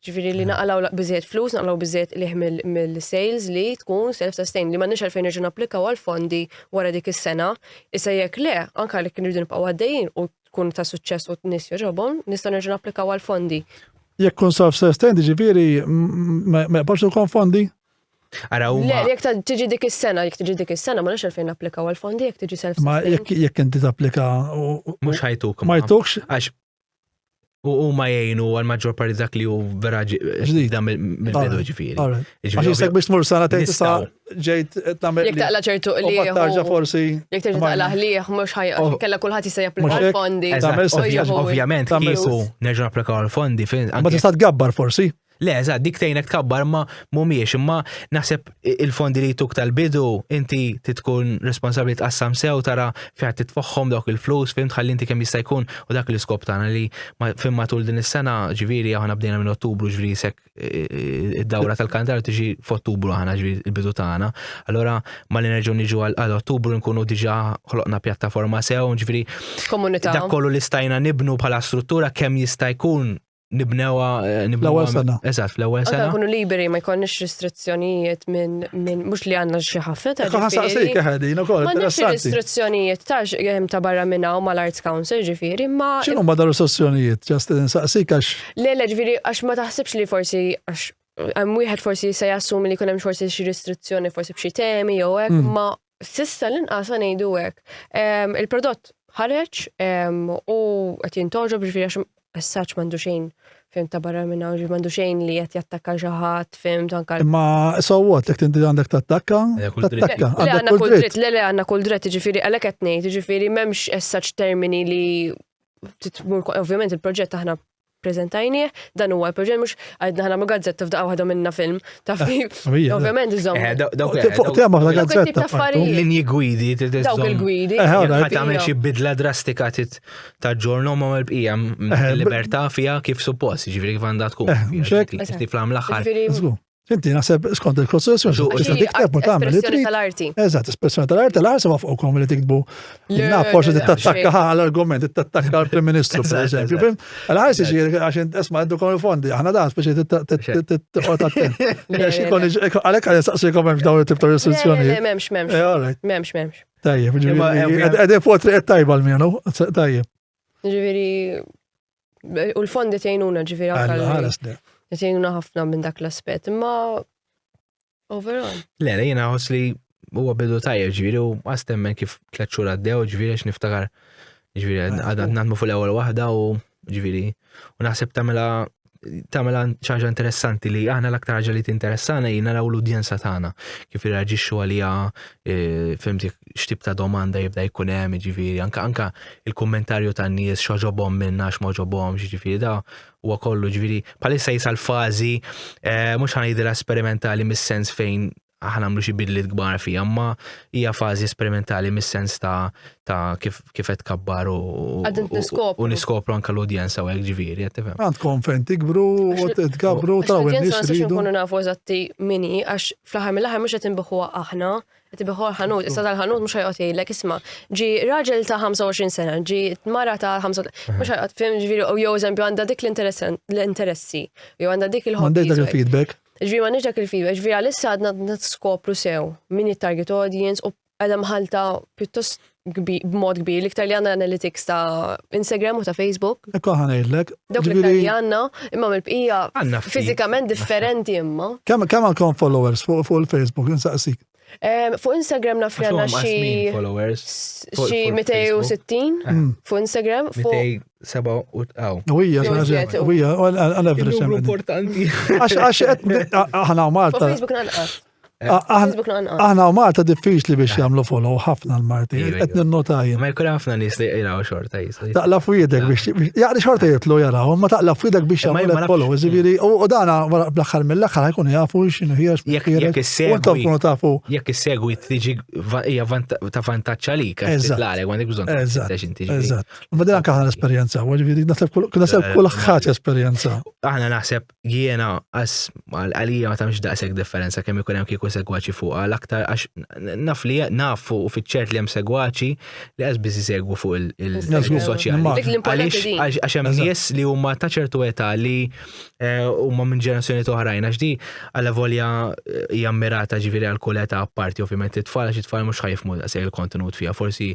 Speaker 3: Ġviri li naqalaw bizzet flus, naqalaw bizzet liħ mill-sales li tkun self-sustain li ma nix għalfejn irġu applikaw għal-fondi wara dik is-sena. Issa jekk le, anka li kien irridu nibqaw għaddejjin u tkun ta' suċċess u t-nis joġobom, nista' nerġu napplikaw għal-fondi. Jekk kun
Speaker 1: self-sustain, ġviri, ma jqbax ikon fondi? Ara u. Le,
Speaker 3: jek tiġi dik is-sena, jek tiġi dik is-sena, ma nix għalfejn applikaw għal-fondi, jek tiġi self Ma jek jek inti tapplika.
Speaker 1: Mux ħajtuk.
Speaker 2: Ma jtukx. Għax U huma jgħinu għal maġġor parti dak li hu vera ġdida mill-bidu ġifieri. Għax jisek biex
Speaker 1: tmur sena tgħid tista' ġejt tagħmel. Jekk taqla ċertu li.
Speaker 3: Tarġa forsi.
Speaker 1: Jekk terġa' taqla ħlieh
Speaker 3: mhux ħaj oh. kellha kulħadd jista' japplika l-fondi.
Speaker 1: Ovvjament
Speaker 2: kieku
Speaker 1: nerġa'
Speaker 3: napplikaw
Speaker 2: l-fondi
Speaker 1: fejn.
Speaker 2: Ma tista' tgabbar
Speaker 1: forsi.
Speaker 2: Le, eżatt, dik tgħinek tkabbar ma mhumiex, imma naħseb il-fondi li jtuk tal-bidu inti titkun responsabbli tqassam sew tara fejn titfoħħom dawk il-flus, fim tħalli inti kemm jista' jkun u dak l-iskop tagħna li fim matul din is-sena ġifieri aħna bdejna minn Ottubru ġifieri sek id-dawra tal-kandar tiġi f'Ottubru aħna ġifieri il-bidu tagħna. Allora ma li nerġgħu niġu għal Ottubru nkunu diġà ħloqna pjattaforma sew, ġifieri dak kollu
Speaker 3: li stajna
Speaker 2: nibnu bħala struttura kemm jista' jkun nibnewha nibnewha sena.
Speaker 1: Eżatt, fl-ewwel sena. Nkunu
Speaker 2: liberi ma jkollniex
Speaker 3: restrizzjonijiet minn min, mhux li għandna xi ħafna ta' ġifieri. Ħasaqsik ħedin
Speaker 1: ukoll. M'għandniex restrizzjonijiet ta'
Speaker 3: hemm ta' barra minn hawn mal-Arts Council ġifieri, ma. X'inhu ma dar restrizzjonijiet?
Speaker 1: Ġast insaqsik għax. Le, le, ġifieri għax
Speaker 3: ma taħsibx li forsi għax hemm wieħed forsi se jassumi li jkun hemm forsi xi restrizzjoni forsi b'xi temi jew hekk, mm. ma S'issa l-inqas se ngħidu hekk. Il-prodott ħareġ u qed jintoġob ġifieri għax as-saċ m'għandu xejn fim ta' barra minn hawn, m'għandu xejn li qed jattakka xi ħadd fim tanka. Imma sowwot
Speaker 1: jekk tinti għandek tattakka, tattakka. Le
Speaker 2: għandna kull dritt,
Speaker 1: le le
Speaker 3: għandna kull dritt, ġifieri għalhekk qed ngħid, ġifieri m'hemmx as-saċ termini li titmur ovvjament il-proġett aħna Preżentajnieh, dan huwa l-proġett mhux għidna ħa nagħmlu gazzetta f'daqqa waħda minna film, taf kif. Ovvjament
Speaker 1: iżomm. Eh, daw-
Speaker 3: dawk- Fuq- fuq tema f'la Dawk
Speaker 1: it-tip gazzetta. ta' affarijiet.
Speaker 3: Linji
Speaker 1: gwidi
Speaker 3: trid
Speaker 2: Dawk iżżomm. il-gwidi.
Speaker 3: Eh, ħana, Jekk ma tagħmel xi
Speaker 2: bidla drastika tit taġġornu ma mal bqija Eh, b- libertà fiha kif suppost, jiġifieri kif għandha tkun. Eh, mhux hekk? Jiġifieri
Speaker 1: Fl-aħħar. Ġifieri,
Speaker 2: Żgur. Inti
Speaker 3: naħseb
Speaker 1: skont il-kostruzzjoni xi tista' tikteb u tagħmel espressjoni tal-arti. Eżatt, espressjoni
Speaker 3: tal-arti
Speaker 1: l ħaseb fuqkom li tiktbu. Naf forsi tittattakka għall-argument, tittattakka għall-Prim Ministru, per eżempju. Fim? Għal-ħajs iġir għax isma' għaddu kon il-fondi, aħna dan speċi titqgħod attent. Għalhekk għal saqsikom hemm dawn it-tip ta' restrizzjoni. M'hemmx,
Speaker 3: m'hemmx.
Speaker 1: Eh,
Speaker 3: m'hemmx,
Speaker 1: m'hemmx. Tajjeb,
Speaker 3: ġifieri.
Speaker 1: Qegħdin
Speaker 2: fuq triq
Speaker 1: tajba l-mienu, tajjeb. Ġifieri
Speaker 3: U l-fondi tgħinuna ġifieri anke. Tgħinuna
Speaker 1: ħafna minn
Speaker 3: dak l-aspett, imma overall. Le, le jiena
Speaker 2: ħoss li huwa bidu tajjeb ġifieri u għastemmen kif tliet xhur għaddew ġifieri għax niftakar ġifieri għadna nagħmlu fuq l-ewwel waħda u ġifieri u naħseb tagħmilha tagħmilha ċaġa interessanti li aħna l-aktar ħaġa li tinteressana hi naraw l-udjenza tagħna kif irraġixxu għaliha e, fimtik x'tip ta' domanda jibda jkun hemm, jiġifieri anka anka il-kummentarju tan-nies x'oġobhom minn għax ma ġobhomx, jiġifieri da huwa kollu ġifieri bħalissa jisal fażi eh, mhux ħanajdilha sperimentali mis-sens fejn aħna nagħmlu xi bidliet kbar fija, ma hija fażi sperimentali mis-sens ta' ta' kif kif qed kabbar u u niskopru anke l-udjenza u hekk ġifieri qed tifhem. Għandkom fejn tikbru
Speaker 1: u tkabru ta' u n-nies. Nkunu nafu
Speaker 3: eżatti mini għax fl-aħħar mill-aħħar mhux qed inbiħuha aħna Tibiħor ħanut, issa tal-ħanut mux ħajqot jgħidlek, isma, ġi raġel ta' 25 sena, ġi mara ta' 25, mux ħajqot, fim ġviri, u jow eżempju għanda dik l-interessi, jow għanda dik il-ħobbi. Għandek dak il-feedback?
Speaker 1: Ġviri
Speaker 3: ma
Speaker 1: nġdak il-feedback,
Speaker 3: ġviri għalissa għadna t-skopru sew, minn il-target audience, u għadam ħalta pjuttost b'mod kbir, l-iktar li għanna analytics ta' Instagram u ta' Facebook. Ekku ħanajlek.
Speaker 1: Dawk l-iktar li għanna,
Speaker 3: imma mill-bqija fizikament
Speaker 2: differenti
Speaker 3: imma. Kemm kemm għandkom
Speaker 1: followers fuq il-Facebook, insaqsik? Fuq
Speaker 3: Instagram naf li għanna xi. Followers.
Speaker 2: Xi 260
Speaker 3: mm. fuq Instagram.
Speaker 2: Fuq seba u
Speaker 1: tqaw. Uwija, uwija, għal-average. Importanti.
Speaker 2: Għax, għax, ħana
Speaker 1: Malta. Facebook nanqas.
Speaker 3: Aħna u Malta diffiċli
Speaker 1: biex jagħmlu follow ħafna l-Marti, qed ninnota jien.
Speaker 2: Ma jkun
Speaker 1: ħafna nies li
Speaker 2: jqraw xorta jisli. Taqla f'idek biex
Speaker 1: jaqli xorta jitlu jaraw, ma taqla f'idek biex jagħmlu follow, ġifieri
Speaker 2: u
Speaker 1: dana bl-aħħar mill-aħħar ħajkun jafu x'inhu hija jekk issegwi
Speaker 2: tafu.
Speaker 1: Jekk issegwi tiġi
Speaker 2: hija ta' vantaġġ għalik għax titlalek għandek bżonn
Speaker 1: tgħix
Speaker 2: inti. Eżatt. Ma din anke aħna
Speaker 1: l-esperjenza, ġifieri naħseb kull ħaġa esperjenza. Aħna naħseb
Speaker 2: jiena għas għalija ma tamx daqshekk differenza kemm ikun hemm kieku segwaċi fuqha l-aktar għax naf li nafu u fiċċert li hemm segwaċi li għaż biss jsegwu fuq il-soċjali.
Speaker 3: Għax hemm nies li
Speaker 2: huma ta' ċertu età li eh, huma minn ġenerazzjoni oħrajn għax di għalla volja eh, hija mirata ġifieri għal kull età apparti ovvjament it-tfal għax it-tfal mhux ħajfmu daqshekk il-kontenut fiha forsi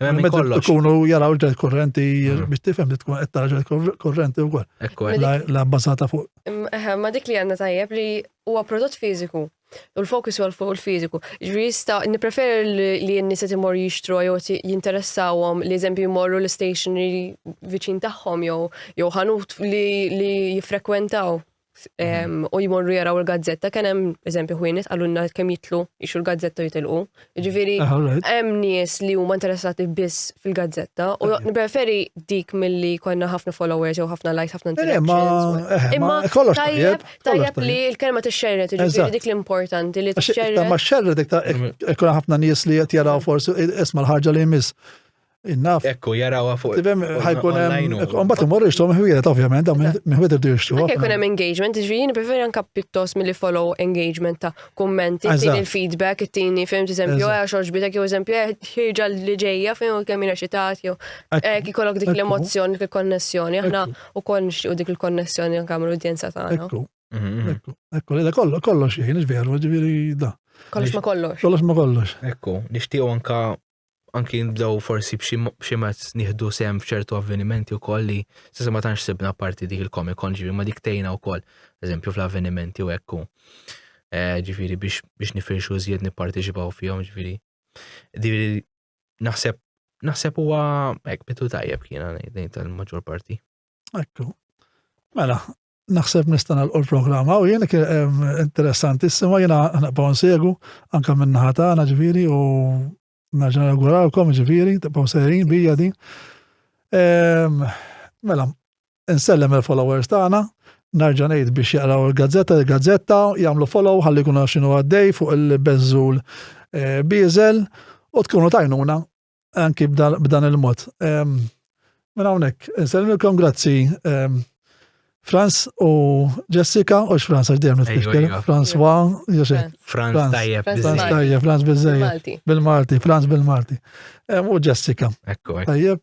Speaker 1: Ikunu
Speaker 2: jaraw ġel
Speaker 1: korrenti mm. biex tifhem li tkun qed tara ġel korrenti wkoll. La
Speaker 2: bbażata fuq.
Speaker 1: Ma dik li għandna
Speaker 3: tajjeb li huwa prodott fiżiku. U l-fokus għal fuq il-fiziku. Ġri jista, niprefer li jenni se timor jishtru jew jinteressawhom li eżempju jmorru l-stationery viċin tagħhom jew jew ħanut li jiffrekwentaw. u jmorru jaraw il-gazzetta, kien hemm eżempju ħwienet għalunna kemm jitlu jixu l-gazzetta u jitilqu. Ġifieri ah, hemm nies li huma interessati biss fil-gazzetta u nippreferi dik milli konna ħafna followers jew ħafna likes, ħafna eh, interactions. Eh, Imma kollox
Speaker 1: tajjeb, tajjeb li
Speaker 3: l-kelma tixxerret, ġifieri dik l-importanti li tixxerret. Ma xxerret iktar
Speaker 1: ikun ħafna nies li qed jaraw forsi isma' l-ħarġa li jmiss. Innaf. Ekku, jarawa fuq.
Speaker 2: Tifem, ħajkun hemm.
Speaker 1: Mbagħad imorru jixtru miħwiet, ovvjament, dawn miħwiet irdu jixtru. Anke jkun hemm engagement,
Speaker 3: ġifieri nippreferi anke pjuttost milli follow engagement ta' kummenti, tieni il-feedback, tieni fim eżempju għax xoġbitek jew eżempju eh, ħirġa li ġejja fejn u kemm jiena xitat jew eh, kikollok dik l-emozzjoni, dik il-konnessjoni, aħna wkoll nixtiequ dik il-konnessjoni anke mal-udjenza tagħna. Ekku. Mhm. Ekku, ekku,
Speaker 1: li kollox, kollox, jien veru, ġifieri da. Kollox ma kollox.
Speaker 3: Kollox ma kollox. Ekku,
Speaker 1: nixtiequ anke
Speaker 2: anki nibdew forsi b'xi mezz nieħdu sem f'ċertu avvenimenti wkoll li s'issa ma tantx sibna parti dik il-Comic Con ġifieri ma dik tgħinna wkoll, eżempju fl-avvenimenti u hekk eh, ġifieri biex biex nifirxu żjed nipparteċipaw fihom ġifieri. Ġifieri naħseb naħseb huwa hekk bitu tajjeb kiena ngħid tal-maġġor parti. Ekku.
Speaker 1: Mela, naħseb nista' nagħlqu l-programm hawn jien interessanti sima jiena naqbgħu nsegu anke minn naħa tagħna ġifieri u naġa nawgurawkom ġifieri tibqgħu sejrin bija din. Mela, nsellem il-followers tagħna, narġa' ngħid biex jaqraw il-gazzetta, il-gazzetta jagħmlu follow ħalli jkunu x'inhu għaddej fuq il-beżżul eh, biżel u tkunu tajnuna anki b'dan il-mod. Ehm, minn hawnhekk, nselmilkom grazzi ehm, Franz u Jessica, u Franz għax dejjem nitkellem. Iva. Franz wa, Franz
Speaker 2: tajjeb, Franz tajjeb, Franz
Speaker 1: bizzejjeb. Bil-Malti, Franz bil-Malti. Ehm, u Jessica. Tajjeb.